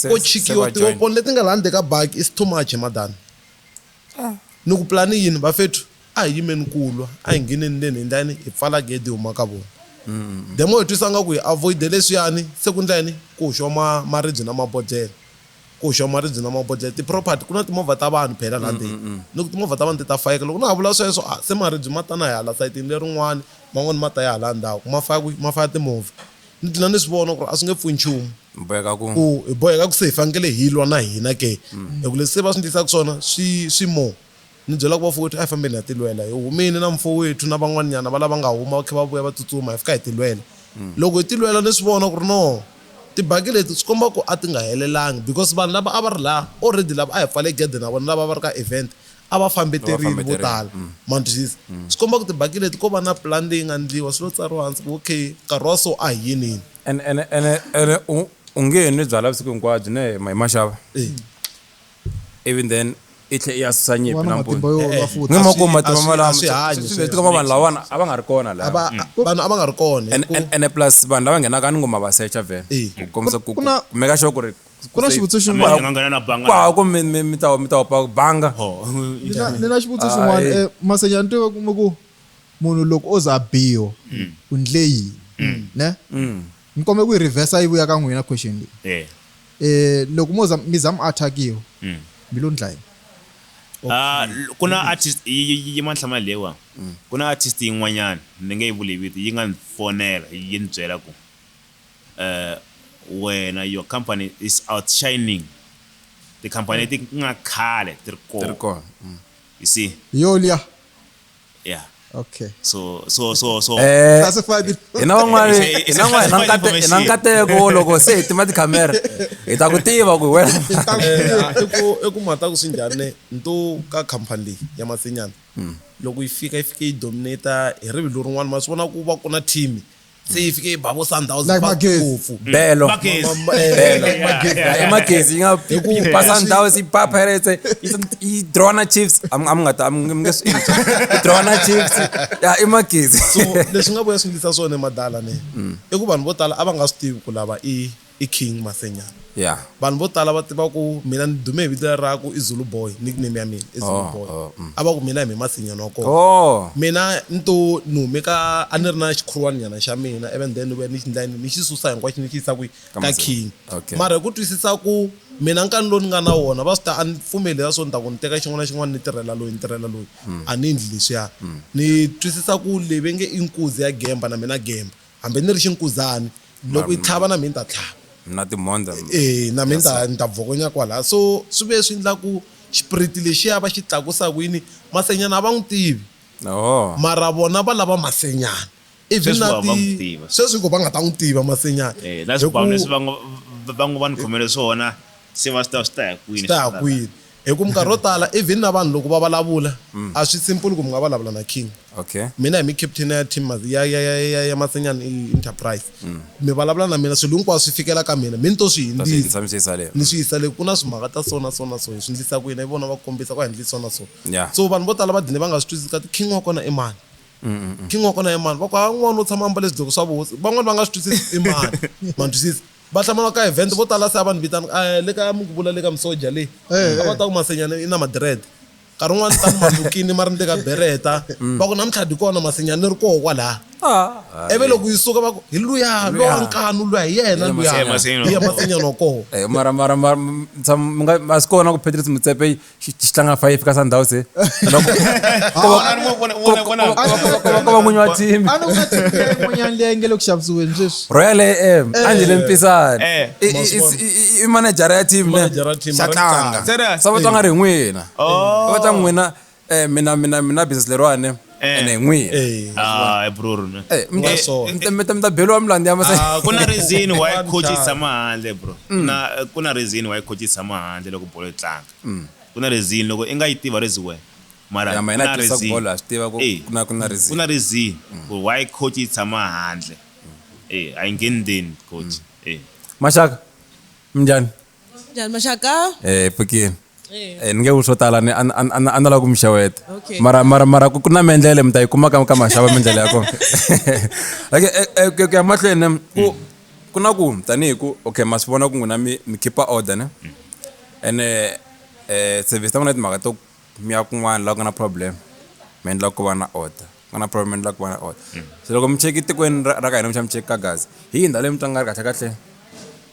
ko chikiwa tiwoponi leti nga laha ndzeni ka baki it's too much he madam. Ni ku plan yini bafethu a hi yimeni ku lwa a hi ngheneni ndzeni hi ndla yini hi pfala gede hi huma ka vona. The more hi twisa nga ku hi avoid-e leswiyani se ku ndla yini ku hoxiwa maribye na mabodlhela. Ku hoxiwa maribye na mabodlhela, ti-property, ku na timovha ta vanhu phela laha ndzeni. Ni ku timovha ta vanhu ti ta fayeka. Loko na ha vula sweswo, a se maribye ma ta na hala sayitini lerin'wana, man'wana ma ta ya halaya ndzhaku. Ma faya kwihi? Ma faya timovha. Ni dlina ni swi vona ku ri a swi nge pfuni nchumu. Hi boheka ku. Ku hi boheka ku se hi fanekele hi lwa na hina ke? Hi ku leswi se va swi ndlisaku swona swi, swi more. Ni byela ku vafowethu, a hi fambeni hi ya tilwela. Hi humile na mufowethu na van'waninyana va lava nga huma va khe va vuya va tsutsuma, hi fika hi tilwela. Loko hi tilwela ni swi vona ku ri no, tibaki leti swi komba ku a ti nga helelangi because vanhu lava a va ri laha already lava a hi pfale gede na vona lava a va ri ka event a va fambeterile vo tala, ma twisisa. Swi komba ku tibaki leti ko va na plan leyi nga ndliwa swi lo tsariwa hansi ku ok nkarhi wa so a hi yinini. Ene, ene, ene, ene u, u nge nwi byalwa vusiku hinkwabyo ne hi ma xava. even then i tlhe i ya susa nyimpi Wana matimba nampundzu yo lwa futhi. ni ma ku Aswi- matimba aswi- malama aswi hanyi sweswi sweswo. hikuva vanhu lavana a va nga ri kona lava Aba- vanhu a va nga ri kona And- hikuva- and- ene plus vanhu lava nghenaka ni ngoma va secha vhe Eh. ku kombisa ku Ku- ku na- ku meka sure ku ri ku na xivutiso Ameni, xin'wana nga nghena na banga kwaha ku mi- mi- mi ta- mi ta opa banga Oh, ni na- ni na xivutiso xin'wana Ayi. Eh, masenya ni tiva kuma ku munhu loko o za a biwa u ndle yini ne mi kombe ku yi reversa yi vuya ka n'wina question leyi eh eh loko mo za mi za mi attackiwa mm. mi lo ndla yini Ah, ku na mm-hmm. artist yi mantlhama lewa mm. ku na artist yin'wanyana ni nge yi vuli vito yi nga ni fonela yi ni byela ku um wena your company is outshining tikhampani leti mm. nga khale ti ri kona mm. you see yo liya Yeah. Okay. So so so so eh, classified hi na van'wana hi na van'wana hi na nkateko wo loko se hi tima tikhamera hi ta ku tiva ku wena i ku mata ku swi njhani nto ka khampani leyi ya masinyana hmm. loko yi fika yi fike yi dominata hi rivilo rin'wana ma swi vona ku va ku na team se yi fike yi ba vo sundowns Like Magezi. ngopfu belo Magezi. Ma- ma- eh, Belo. like Magezi. Yeah, yeah. imagezi yi nga Hi ku- yi ba sundowns yi ba pirates eh, yi- yi draw na chiefs am am nga ta am nge swi endli yi draw na chiefs ya imagezi so leswi nga vuya swi ndlisa swona emadala ne i ku vanhu vo tala a va nga swi tivi ku lava i i King Mathwenyana. Yeah. Vanhu vo tala va tiva ku mina ni dume hi vito leri ra ku i Zulu Boy, nickname ya mina i Zulu Boy. A va ku mina hi me Mathwenyana wa kona. Mina ni to ni hume ka a ni ri na xikhurwaninyana xa mina ivi and then ni vuya ni xi endla yini ni xi susa hinkwaxo ni xi yisa kwihi, ka King. Mara hi ku twisisa ku mina nkani lowu ni nga na wona va swi tiva a ni pfumeli leswiya swo ni ta ku ni teka xin'wana na xin'wana ni tirhela loyi ni tirhela loyi a ni endli leswiya. Ni twisisa ku leyi va nge i nkuzi ya gemba na mina gemba. Hambi ni ri xinkuzani, loko yi tlhava na mhe ni ta tlhava. Na timhondza mi. E, na mhe ni ta ni ta bvokonya kwalaya. So swi ve swi ndla ku xipiriti lexiya va xi tlakusa ku yini, masenyana a va n'wi tivi. Oho. Mara vona va lava masenyana. Even na ti, sweswi hi ku va nga ta n'wi tiva masenyana. E, na swibhamu leswi va ngo va ngo va ni khomele swona se va swi tiva swi ta ya kwini. Swi ta ya kwini. Hi ku minkarhi yo tala even na vanhu loko va valavula a swi simple ku mi nga valavula na king. Okay. Mina hi mi captain ya team ya ya ya ya ya Masenyana Enterprise mi valavula na mina swilo hinkwaswo swi fikela ka mina mi ni to swi Ta swi hindzisa. hindzisa mi swi yisa le. Ni swi yisa le ku na swimhaka ta so na so na so hi swi ndlisa ku yini hi vona va kombisa ku a hi ndli so na so. Yeah. So vanhu vo tala va dine va nga swi twisisi ka ti king wa kona i mani. King wa kona i mani va ku ha n'wana u tshama a mbale swidloko swa vuhosi van'wani va nga swi twisisi i mani ma ni twisisa. va hlamala ka event vo tala se a va ni vitana a le ka mi ku vula le ka misoja leyi a va ta ku masenyana i na madred nkarhi un'wana ni ta ni malukini ma ri ni le ka bereta va ku namuntlha di kona masenyana ni ri koho kwalaya ivi loko yi suka va ku hi luya lowa nkanu luya hi yena Hi luya Masenyana. hi ya masenyana wa koho Eh, mara mara mara m- tsham- mi nga- a swi kona ku patrice mutsepe tichitanga five kasundowns kova munyi wa team a ni ku nga team leyi yin'wanyana leyi nge le ku xavisiweni sweswi royal am a ndzi le mpisani Eh. I- i- i- i- i manejara ya team ne Manager ya team, xa ra tlanga tlanga. Serious? sa va twa nga ri hi n'wina Oh. va ta n'wina um mina mina mina business leriwani Eh. ene n'wihi Eh, Ah, bror ne. Eh, mi ta- Eh, so. mi ta- mi ta- mi ta beriwa milandzu ya masa ah, ku na reason why One coach yi time. tshama handle bro na ku na reason why coach yi tshama handle loko bolo yi tlanga ku na reason loko i nga yi tiva rezi wena mara ya ma ku hina na tirhisa ku reason. bolo ha swi tiva ku Eh. ku na ku na ku reason na reason ku why coach yi tshama handle eh a yi ngenideni coach eh maxaka minjhani Njhani maxaka? Eh Phikini. Eh ni nge ku swo tala ni a ni- a ni- a ni- a ni lava ku mi xeweta. Okay. Mara mara mara ku ku na mendlele mi ta yi kuma ka ka maxava mendlele ya kona. Okay eh, eh, ku ku ya mahlweni em, ku ku na ku tanihi ku okay ma swi vona ku n'wina mi mi keep order ne. Ene eh service ta n'wina timhaka to mi ya kun'wana la ku nga na problem mi endla ku va na order. Ku nga na problem mi endla ku va na order. Se loko mi cheki tikweni ra ra ka hina mi xa mi cheki ka Gaza. Hi yini ndhawu leyi mi twa nga ri kahle kahle?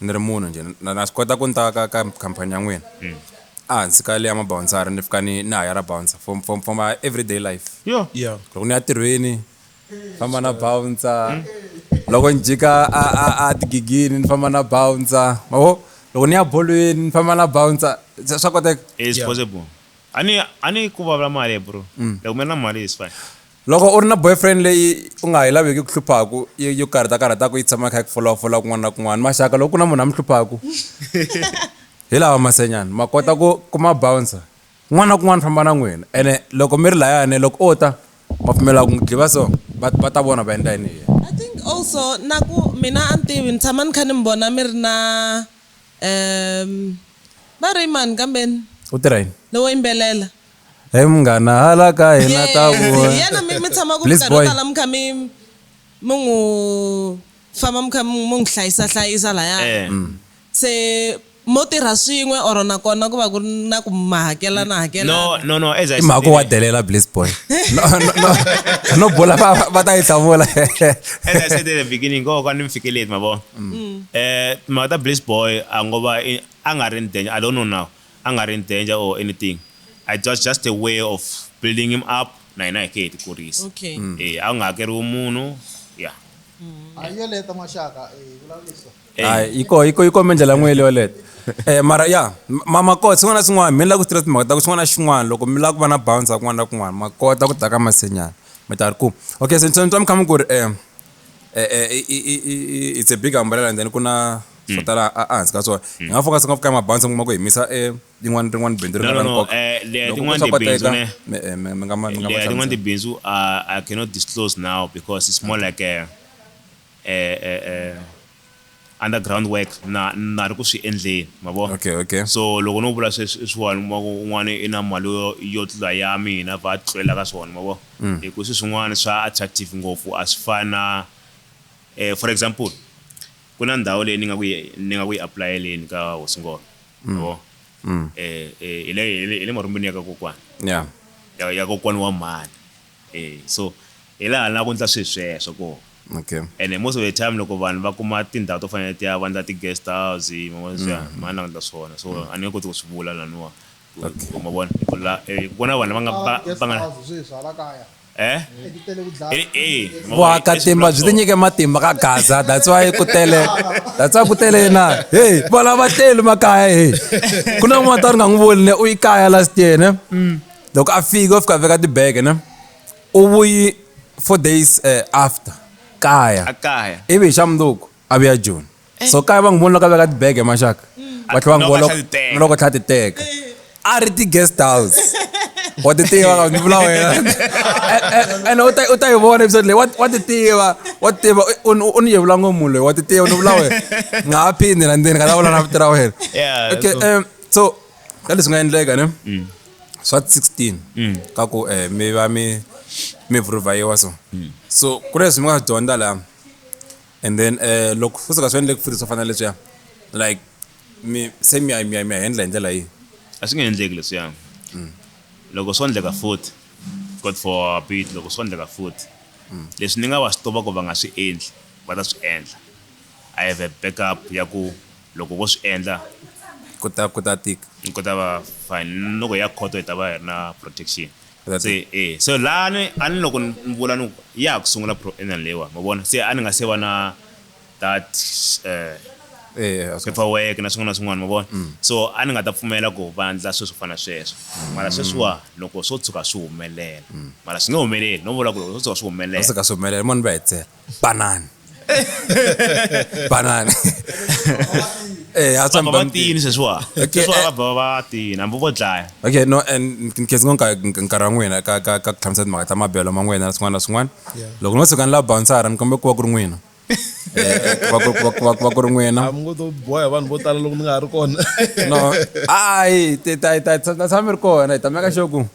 Ni ri munhu njhe, na na swi kota ku ni ta ka ka khampani ya n'wina? A hansi ka liya mabawunsari ni fika ni ni hayara bawunsa for for for my everyday life. Yoh! Ya. Loko ni ya tirhweni, ni famba na bawunsa, loko ni jika a a a tigigini ni famba na bawunsa, ma vo? Loko ni ya bolweni ni famba na bawunsa, se swa koteka? It's possible. A ni a ni ku vulavula mali bro. Loko mi ri na mali it's fine. Loko u ri na boyfriend leyi u nga ha yi laveki ku hluphaku yi yo karhata karhataku yi tshama yi kha yi ku folafola kun'wana na kun'wana maxaka loko ku na munhu a mi hluphaku hi lawa masenyana ma kota ku ku ma bouncer kun'wana na kun'wana famba na n'wina ene loko mi ri layani loko o ta ma pfumela ku n'wi dliva so va va ta vona va endla yini hi yena. I think also na ku mina a ni tivi ni tshama ni kha ni mi vona mi ri na va ri i mani kambeni? U tirha yini? Lowo yimbelela. Hey munghana hala ka hina ta vona. yena mi mi tshama ku Please, minkarhi yo boy. tala mi kha mi mi n'wi famba mi kha mi mi n'wi hlayisa hlayisa laya Eh. se mo tirha swin'we or nakona ku va ku ri na ku ma hakela na hakela no no no as i I mhaka wa delela bliss boy. No no no. No bola va va- va ta yi hlamula. as i said at the beginning ko ka ni mi fikeleli ma vona eh timhaka ta bliss boy a ngo va i- a nga ri ni denya i don't know now a nga ri in danger or anything it was just a way of building him up na hina hi ke hi ti kurisa Okay. Mm. eh a ku nga hakeriwi munhu ya A yo leta N'waxaka, eh, vulavuriso. Hayi, yi ko- yi ko- yi kome ndlela n'we leyo leta Eh, mara ya m- ma makota swin'wana na swin'wana mi lava ku tirha timhaka ta ku xin'wana na xin'wana loko mi lava ku va na bounce kun'wana na kun'wana makota ku ta ka masenyana mi ta ri ku okay se ni twa mi kha mi ku ri um it's a big umbrella and then ku na swo tala ehansi ka swona hi nga focus ngopfu ka mabanzi mi kuma ku hi misa yin'wana rin'wana bindzu ri nga nkoka tin'wana tibindzu ne mi nga ma tin'wana tibindzu i cannot disclose now because it's more like a, a, a, a underground work na na ri ku swi endleni ma vona okay okay so loko no vula sweswi i swiwani kuma ku un'wana i na mali yo yo tlula ya mina va tlulela ka swona ma vona mm. hi ku swi swin'wana swa attractive ngopfu a swi fani na eh, for example ku na ndhawu leyi ni nga ku ni nga ku yi aplayeleni ka hosingolo mm. ma vona mm. eh, eh, hi le hi le marumbeni ya ka kokwana yeah. ya, ya kokwana wa mhani E, so hi laha na ku ndla swi sweswo ko okay ene most of the time loko vanhu va kuma tindhawu to fanele ti ya va ndla ti guest house mavona swi mm. mani lava ndla swona so mm. a ni nge koti ku swi vula laniwa okay. ma vona ku la eh, ku na vanhu va nga va nga eh? eh, vuakatimba byi tinyike matimba ka gaza that's why ku tele that's why ku tele yena hey valava tleli makaya hey ku na n'wana ta ri nga n'wi voni ne u yi kaya last year ne mm. loko a fika u fika a veka tibege ne u vuyi four days eh, after kaya a kaya ivi hi xa mundzuku a vuya joni so kaya va n'wi voni loko a veka tibege maxaka va tlhela va n'wi Loko a vona tlhela ti teka. loko a tlhela ti teka a ri ti-guest house wa ti tiva ka ni vula wena ene u ta- u ta yi vona episode leyi wa- wa ti tiva wa ti tiva u- u- u ni yevula ngopfu munhu loyi wa ti tiva ni vula wena nga ha phindi na ndzeni ka ta vula na vito ra wena Yeah, okay so- um, so ka leswi nga endleka ne swa 16 ka ku eh, mi va mi mi vhurivhayiwa so so ku leswi mi nga swi dyondza laha and then eh, loko futhi ka swi endleki futhi swo fana na leswiya like mi se mi ya mi ya mi ya hendla hi ndlela yihi a swi nge endleki leswiya loko swo endleka futhi god for our beat loko swo endleka futhi leswi ni nga va swi tiva ku va nga swi endli va ta swi endla i have a backup ya ku Loko vo swi endla. Ku ta, ku ta tika. Ku ta va fine. Ni loko hi ya khoto hi ta va hi ri na protection. Se, e. Se laha ni, a ni loko ni vula ni ku, ya ha ku sungula proenal leyiwani, ma vona? Se a ni nga se va na that, eh, paperwork na swin'wana na swin'wana, ma vona? So a ni nga ta pfumela ku va endla swilo swo fana na sweswo. Mara sweswiwani loko swo tshuka swi humelela, mara swi nge humeleli, no vula ku loko swo tshuka swi humelela. Swo tshuka swi humelela, mo ni va hetsela. Banana. Banana. Eh, ha tswa baba tini sweswiwa sweswiwa va bava va tini hambi vo dlaya okay no and nkhensi ngo nkarhi wa n'wina ka ka ka ku tlhamisa timhaka ta mabelo ma n'wina na swin'wana na swin'wana loko no tshuka ni la bounsara ni kombe ku va ku ri n'wina va ku ri n'wina mi ngo to boha vanhu vo tala loko mi nga ha ri kona no hayi ta tshama mi ri kona hi ta meka xoku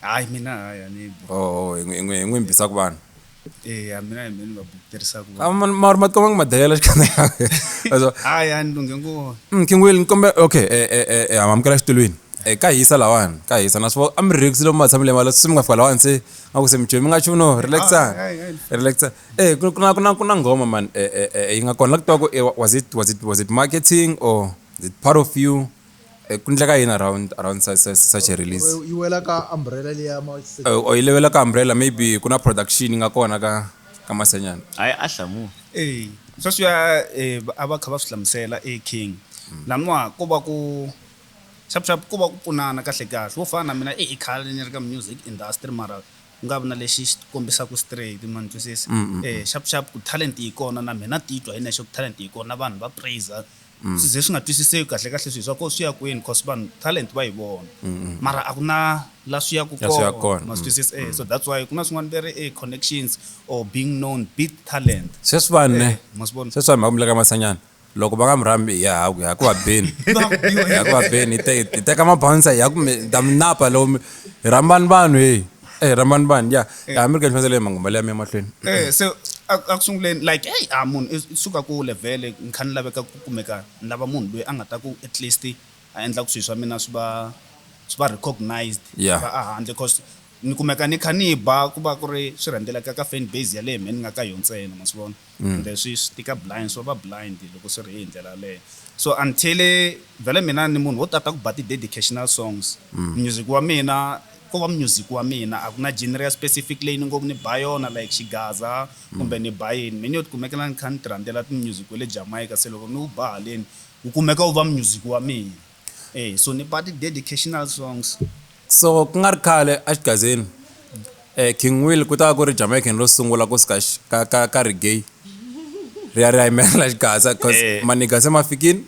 hayi mina hayi a ni bu oh hi n'wi- hi n'wi- hi n'wi mbisa ku vanhu eya mina hi mina ni va bukuterisaka Ah, vanhu ma- ma- ma tikuma ngi madayela xikana yaso hayi a ni lunghe ngona Mm, King Will, nikombe okay, eh eh eh eh amamukela xitulwini. Eh ka hisa lawani, ka hisa naswo a mi relax lomu matshamile mali swi mi nga fika lawani se nga ku se mi mi nga chumu no relax. Ah, ai, ai. Relax. Eh ku ku na ku na ku na ngoma man eh eh eh yi nga kona la ku twa ku eh, was it was it was it marketing or is it part of you? Ku endla ka yini around around such a release yi wela ka umbrella leya or yi levela ka umbrella maybe ku na production yi nga kona ka ka masenyana hayi a hlamula e sweswiya a va kha va swi hlamusela e king laniwa ko va ku xap xap ko va ku pfunana kahle kahle wo fana na mina i khale ni ri ka music industry mara ku nga vi na lexi xi kombisaka straight ma ni twisisa xap xap ku talent yi kona na mina titwa hi nexe ku talent yi kona vanhu va praiser swi ze swi nga twisiseki kahle kahle swi swa ko swi ya kwini cause vanhu talent va yi vona mara a ku na la swi yaku La swi yaku kona kona. ma swi twisisa eh so that's why ku na swin'wana va ri eh connections or being known beat talent sweswi vanhu ne ma swi vona sweswi vanhu va ku muleka masanyana loko va nga mi rhambi hi ya haku hi ya ku va beni hi ya ku va beni hi te- hi teka mabouncer hi ya ku mi ta mi napa lowu mi hi rhambani vanhu heyi Eh, rambani bani ya eh. ya mi ri ka nhlondzele hi mangumbale ya mi emahlweni eh, se a ku sunguleni like eyi a munhu i suka ku levhele ni kha ni laveka ku kumeka ni lava munhu loyi a nga ta ku at least a endla ku swilo swa mina swi va swi va recognized va a handle cause ni kumeka ni kha ni ba ku va ku ri swi rhendeleka ka fan base yaleyo mhe ni nga ka yo ntsena ma swi vona kumbe swi swi tika blind swo va blind loko swi ri hi ndlela yaleyo so until vhele mina ni munhu wo tata ku ba ti-dedicational songs music wa mina ko va music wa mina a ku na genre ya specific leyi ni ngo ni ba yona like xigaza kumbe ni ba yini me ni yo tikumekela ni kha ni ti rhandzela ti-music we le Jamaica se loko ni wu ba haleni wu kumeka wu va music wa mina. E so ni ba ti dedicational songs. So ku nga ri khale a Xigazeni, King Will ku ta va ku ri Jamaican ro sungula ku suka ka ka ka reggae ri ya ri ya yimelela Xigaza because maniga se ma fikile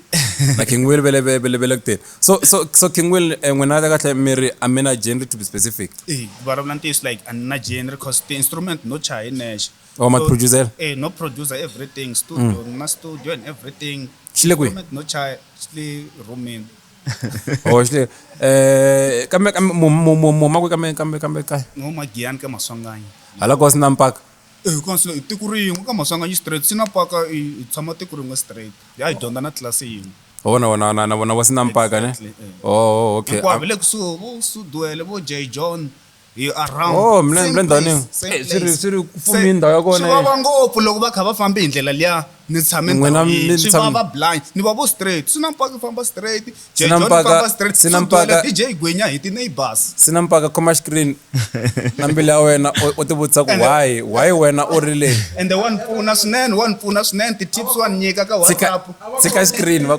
na King Will vele vele vele ku teni. So so so King Will n'wina ka kahle mi ri a mi na genre to be specific. E ku vulavula ntiyiso like a ni na genre because ti instrument no chaya hi nexe. Oh ma ti producer-la? E no producer everything studio ni na studio and everything. xi le kwihi Comment no chaya xi le rhumini oh xi le eh kambe kambe mu mu mu mu makwe kambe kambe kambe kaya no magiyani ka maswanganyi hala ko sina mpaka Eh, kona swi le- i tiko rin'we ka maswanganyi straight sina paka i i tshama tiko rin'we straight ya hi dyondza na tlilasi yin'we oh na vona na na vona vo sina mpaka ne Exactly, eh. oh oh, okay hinkwavo le kusuhi vo suduele vo j john Hi around Oh, mna- same mna ndhawini- place, same eh, swi ri- place. swi ri ku pfumile Se, ndhawu ya kona, swi eh. vava ngopfu loko va kha va fambe hi ndlela liya ni tshame N'wina ndhawu yin'we. mi swi tsham- vava blind ni va vo straight swi na mpaka famba straight Swi na jejon mpaka- famba straight swi na Swi duhela mpaka- dj gwenya hi ti-neighbors swi na mpaka khoma screen na mbilu ya wena u- u tivutisa ku Ende- why why wena u ri le ende wa ni pfuna swinene wa ni pfuna swinene ti-tips wa ni nyika ka tshika whatsapp tshika screen va-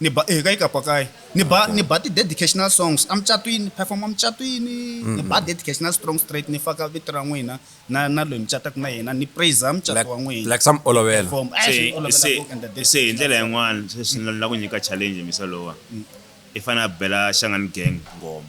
Ni ba hi ka yi ka pakayi ni ba ni ba ti-dedicational songs a mucatwini ni perform-a mucatwini ni ba dedicational strong straight ni faka vito ra n'wina na na loyi mi cataka na yena ni praise mucato Like- wa n'wina like swa mi olovela. Perform. Eh, swi se olovela se ku endla se hi dedication. ndlela yin'wana sweswi ni lava ku nyika challenge misa lowa i fanele a bela xangani gang ngoma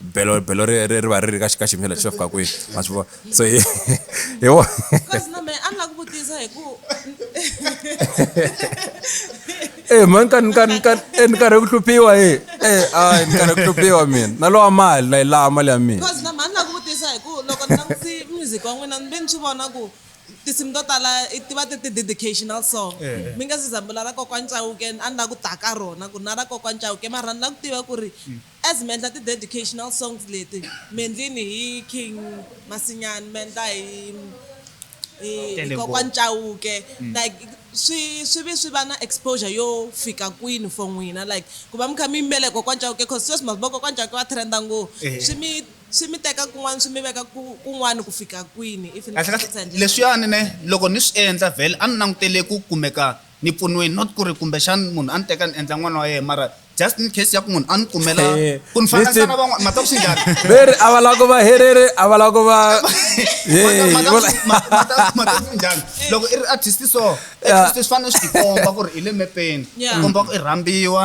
belo belo ri ri ri va ri ri ka ka xiyimo xa xa fika kwihi ma swi vona so hi hi wo e mhani ka ni ka ni ka e ni karhi ku hluphiwa e e a ni karhi ku hluphiwa mina na lowa mali na yi laha mali ya mina because na mhani la ku vutisa hi ku loko ni langutsi music wa n'wina ni ve ni swi vona ku tinsimu to tala ti va ti ti dedicational song mi nga se zambula ra kokwani cawuke a ni la ku ta ka rona ku na ra kokwani cawuke mara ni la ku tiva ku ri As miendla ti dedicational songs leti miendlini hi King Masinyani miendla hi hi Tele Ngopfu. Kokwan Chauke like swi swi vi swi va na exposure yo fika kwini for n'wina like ku va mi kha mi yimbelela hi Kokwan Chauke cause sweswi ma swi vo Kokwan Chauke va trenda ngo Ehe. swi mi swi mi teka kun'wana swi mi veka ku kun'wana ku fika kwini if ni kahle kahle leswiyani ne loko ni swi endla vhele a ni langutele ku kumeka ni pfuniwini not ku ri kumbexana munhu a ni teka ni endla n'wana wa yena mara just in case ya ku munhu a ni kumela eh, ku ni fananisa na van'wana mata ku swi njhani veri a va lava ku va herere a va lava ku va mata ku swi njhani loko i ri artist so swi fanele swi tikomba ku ri i le mepeni komba ku i rhambiwa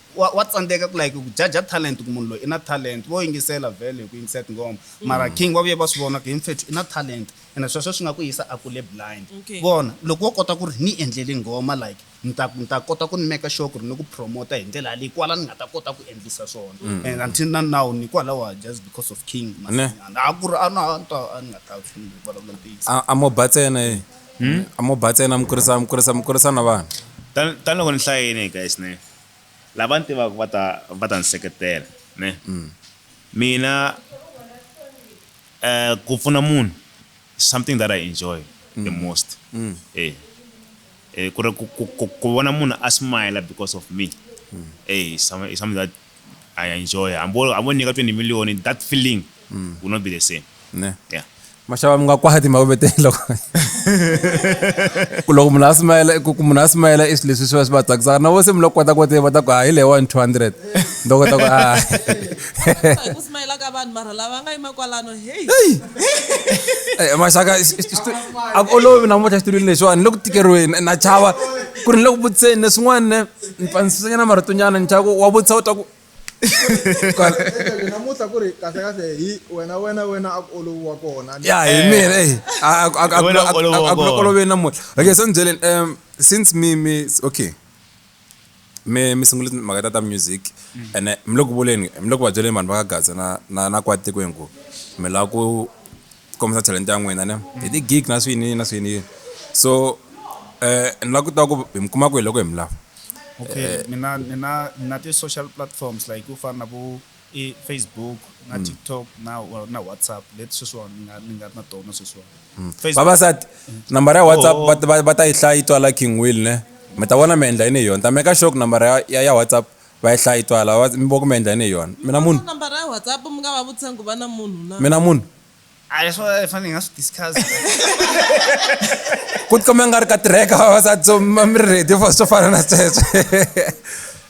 Wa wa tsandzeka ku like ku jaja talent ku munhu loyi i na talent vo yingisela vhele hi ku yingisela tinghoma mara king va vuye va swi vona ku he mfethu i na talent ene sweswo swi nga ku yisa a kule blind Okay. vona loko wo kota ku ri ni endleli nghoma like ni ta ni ta kota ku ni meka sure ku ri ni ku promota hi ndlela yaleyi kwala ni nga ta kota ku endlisa swona and until na now ni kwalaho just because of king Ne. masinyana a ku ri a na a ni ta- a ni nga ta ni vulavula ntiyiso A- a mo ba tsena e a mo ba tsena mi kurisa mi kurisa mi kurisa na vana Tan- taniloko ni hlayini guys ne lava ni tivaka va ta va ta ni seketela ne mina eh ku pfuna munhu something that I enjoy the most eh eh ku ri ku ku- ku- ku vona munhu a smile because of me eh is some- is something that I enjoy hambo hambo ni nyika 20 million that feeling mm. will not be the same ne yeah maxava mi nga kwati mavete loko ku loko munhu a simayela ku munhu a simayela i swilo leswi swi va swi va tsakisaka na vo se mi loko kota ku tiva ta ku hayi leyi one two hundred ndo kota ku ku simayela ka vanhu mara lava nga yima kwalano heyi eh, maxaka a ku olovi namuntlha xitulwini lexiwani ni le ku tikeriweni na chava ku ri ni le ku vutiseni leswin'wana ne ni pfanisisanyana maritonyana ni chava ku wa vutisa u ta ku namuntlha ku ri kahle kahle hi wena wena wena a ku oloviwa kona ya hi eh. mina eyi akuloloveni namuntlha okay so ni byeleni um since mi mi okay mi mi sungule mhaka ta ta music mm. ene mi le ku vuleni mi le ku va byeleni vanhu va ka gaza na na na kwatiko hinku mi lava ku ku kombisa talenta ya n'wina ne hi ti-gig na swiyiniyini na swiyiniyini so um ni la ku tiva ku hi mi kuma kwihi loko hi mi lava okay ni na ni na ni na ti-social platforms like ku fana na vo i Facebook na mm. TikTok na na WhatsApp leti sweswiwani ni nga ni nga na tona sweswiwani mm. vavasati nambara ya WhatsApp oh. va ta yi hlaya yi twala King Will ne mi ta vona mi endla yini hi yona ta meka sure ku nambara ya ya WhatsApp Va yi hlayi twa lava va mi voko mi endla yini hi yona? Mina munhu? Number ra WhatsApp mi nga va vutisa ku va na munhu na. Mina munhu? A hi swona hi fanele hi nga swi discuss-a. Ku tikomba ingari ka tirheka vavasati so mi va mi ri ready for swo fana na sweswo.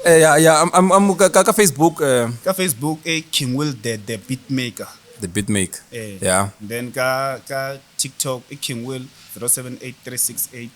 Ya ya ka ka Facebook. Ka Facebook i King Will the the Beatmaker. The Beatmaker ya. Then ka ka TikTok i King Will zero seven eight three six eight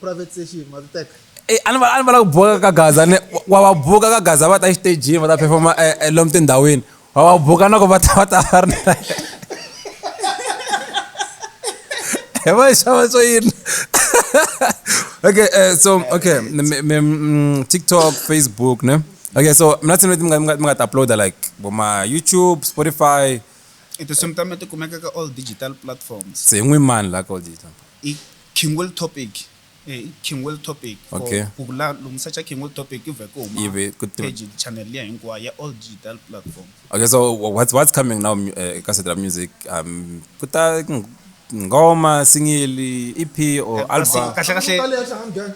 private session ma titeka eh, a ni va a ni va lava ku buka ka gaza ni wa va buka ka gaza va ta exitejini va ta performa eh, eh, lomu tindhawini wa va buka na ku va ta va ta va ri na hi va yi xava swo yini okay uh, so okay mm, tiktok facebook ne okay so mina tsini leti mi nga ti uploada like voma youtube spotify i tinsimu ta mina ti kumeka ka all digital platforms se hi n'wi mani la ka all digital I King Will Topic e i King Will Topic for Okay. ku vula lomu search King Will Topic yi vhe ku huma Yi ve ku tiva- page channel liya hinkwayo ya all digital platform okay so wha- what's, what's coming now mu- eh, eka side ra music um ku ta ng- ngoma singili ep or album Kasi- kahle kahle Kale ya hlangana gang.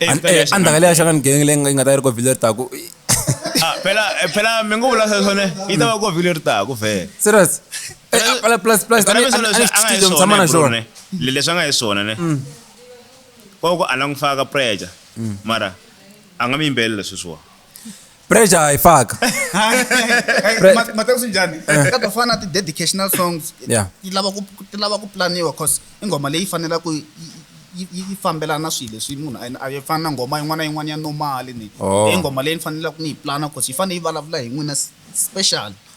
Eh, An- fela eh, ya a ni ta ka leya xana ni genge leyi nga- yi nga ta yi ri kovhile ri taku Ah, phela eh, phela mi ngo vula sweswo ne yi ta va ko vhile ri taku vhele serious Eh, ah, pla- plus plus a ni- a ni- a ni swi tivi leswi tshama na xona leswi a nga hi swona ne koko a langufaka preja mara a nga mi yimbelela sweswiwa pressure ayifaka Pre- Ma- Mateus njhani ka to fana na ti-dedicational songs Yeah. ti lava ku ti lava ku planiwa cause i nghoma leyi fanelaka ku yi- yi- yi yi fambelana na swilo leswi munhu a- a yi fani na nghoma yin'wana na yin'wana ya normali ni Oh. i nghoma leyi ni fanelaka ni yi plana cause yi fanele yi vulavula hi n'wina s- special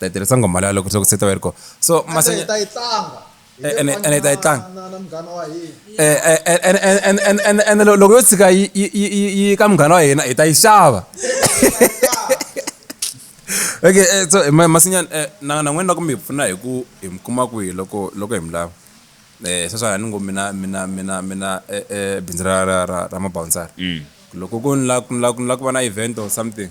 ta yi tirhisa ngoma leya loko swi loko se ta va yi ri kona so masenya ta yi tlanga ene ene ta yi tlanga na na munghana wa hina Eh, eh, eh, ene- ene- ene- ene- ene- ene lo- loko yo tshika yi yi- yi- yi- yi ka munghana wa hina hi ta yi xava okay eh, so eh, ma- masinyana eh, na na n'wina loko mi hi pfuna hi ku hi mi kuma kwihi loko loko hi mi lava um sweswani ni ngo mina mina mina mina eh, eh, bindzu ra ra ra ra mabawunsari loko ku ni la ku ni la ku ni la ku va na event or something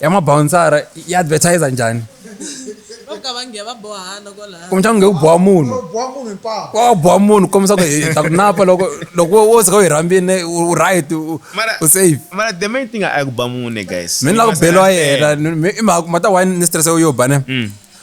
ya mabawunsara yi advertiser njhani kumbexana nge u boha munhu wa boha munhu kombisa ku hi ta ku napa loko loko wo tsika u hi rhambile u right u safe mara the main thing a ku ba munhu guys mi ni la ku beliwa yena i mhaka ma ta why ni stress yo ba ne mm.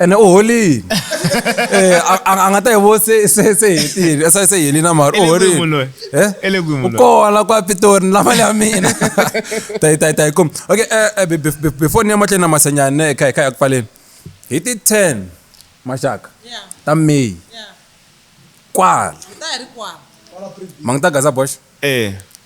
ene u holini Eh, a- a a nga ta hi vo se se se hetile se se helini na mara u Ele kwihi munhu loyi? holini Eh? Ele kwihi munhu u loyi? kona kwa pitori ni lava ya mina tayi tayi tayi kum okay eh, eh, be- be- be- before ni ya mahlweni na masanyani ne kha hi kha hi ya ku pfaleni hi ti 10 maxaka Yeah, ta may yeah. kwala Ta ha ri kwala. ma nga ta gaza boxa Eh.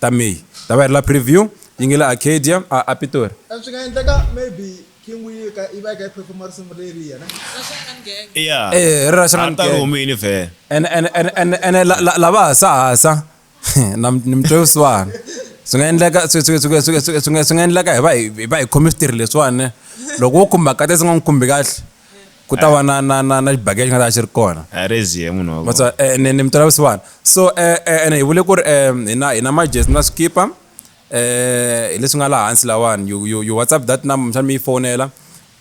ta May ta va yi ri la preview, yi nge le Arcadia, a a Pitori. Swi nga endleka maybe King Willika yi va yi kha yi perform-a risimu leriya ne? Ya, a ta ri humile vhele. Ene, ene, ene, ene, ene la, la, lava hasahasa, na, ni mi twe vusiwana. Swi nga endleka, swi, swi, swi, swi, swi, swi nga, swi nga endleka hi va hi, hi va hi khome switirhi leswiwani ne? Loko wo khumba Katya se u nga n'wi khumbi kahle, ku ta va na na na na xibage xi nga ta xi ri kona a rezie munhu wa matswa eh, ni ni mitola vusiwana so eh, eh, ene hi vule ku ri um hina hina majesi na swikipa um hi leswi nga laha hansi lawani you, you, you whatsapp that number mxani mi yi fonela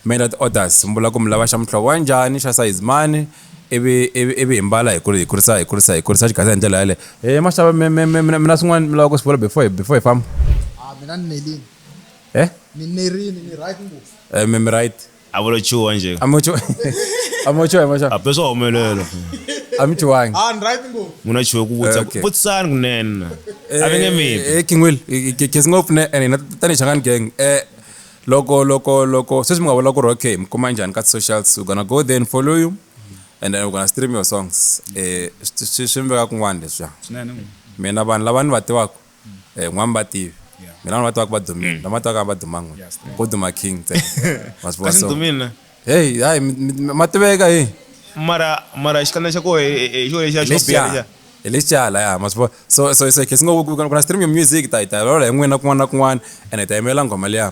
mi endla ti-orders mi vula ku mi lava xa muhlovo wa njhani xa size mani ivi ivi ivi hi mbala hi kuri- hi kurisa hi kurisa hi kurisa xigasa hi ndlela yale e maxava mi- mi- mi- mina mina swin'wana mi lava ku swi vula before hi- before hi famba a mina ni nerini eh ni nerini ni right ngopfu Eh, mi mi right a vo lo chuha njhe a mo chuha a mo chuha a mo chuha a peswa humelelo a mi chuhangi a ah, ni right ngo muna chuha ku vutsa ku vutsana kunene a ve nge mi eh, eh kingwil kesi ngo pfune ene na tani changan gang eh loko loko loko sweswi mi nga vula ku ri okay mi kuma njhani ka socials u gonna go there and follow you and then u gonna stream your songs eh swi swi mi veka kun'wana leswiya mina vanhu lava ni va tivaka eh, n'wami va tivi mi lava va tivaka va dumile lama tivaka va duma n'we ko duma king ntsena ma swi vona kasi so ndumile heyi hayi mi- mi- mi- ma tiveka hi mara mara xikandza xa koho hi xo lexa xo biha lexa lexiya hi lexiala ya ma swi vona so so so khe si ngo ku ku- ku na stream ya music ta hi ta lola hi n'wina kun'wana na kun'wana ene hi ta yimela nghoma liya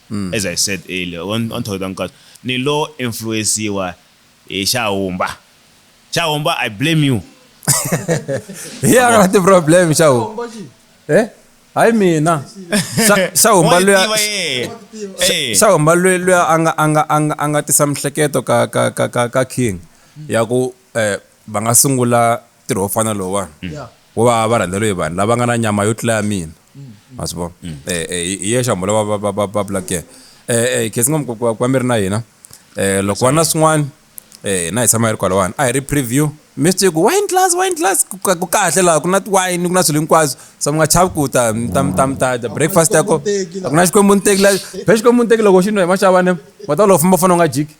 Mm. As I said earlier, wa wa ni thoyota nkatsu. Ni lo influence-iwa hi Xahumba. Xahumba, I blame you. Hi a nga na ti-problem Xahumba. Eh? Hayi mina. Xa- Xahumba Wa yi luya- tiva yena. Eh. Xahumba luya luya a nga- a nga- a nga- a nga tisa mihleketo ka- ka- ka- ka- ka King ya ku eh, va nga sungula ntirho wo fana lowuwani wo va va rhandzeriwe hi vanhu lava nga na nyama yo tlula ya mina ma swi vona um hi yexe hambo lava va- va- va- va vulaka yena um khetsi ngomu ku va mi ri na hina um loko va na swin'wana um na hi tshama hi ri kwalawani a hi ri preview mi swi tivi ku wine glass wine glass ku ka- ku kahle laha ku na tiwayini ku na swilo hinkwaswo so mi nga chavi ku ta mi ta mi ta mi ta dya breakfast ya ko a ku na xikwembu ni teki la phela xikwembu ni teki loko xi nwa hi maxavane wa ta loko famba fana u nga jiki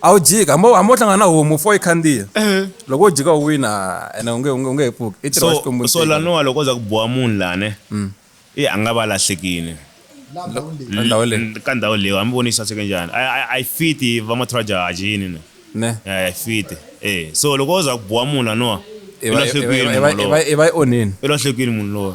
a wu jiki hambi hambi wo hlangana na homu fo yi khandziya loko wo jika u wina ene u nge u nge u nge he pfuki i ntirho wa xikwembu so so ntsena. laniwa loko o za ku boha munhu lane i a nga va lahlekini Ka ndhawu leyi. N- ka ndhawu leyi hambi voni yi saseke njhani a- a- a yi fiti va mathraja a jini ne ne a yi fiti e so loko o za ku boha munhu laniwa i i va- i va- i va- i va- i va i onheni i lahlekini munhu loyi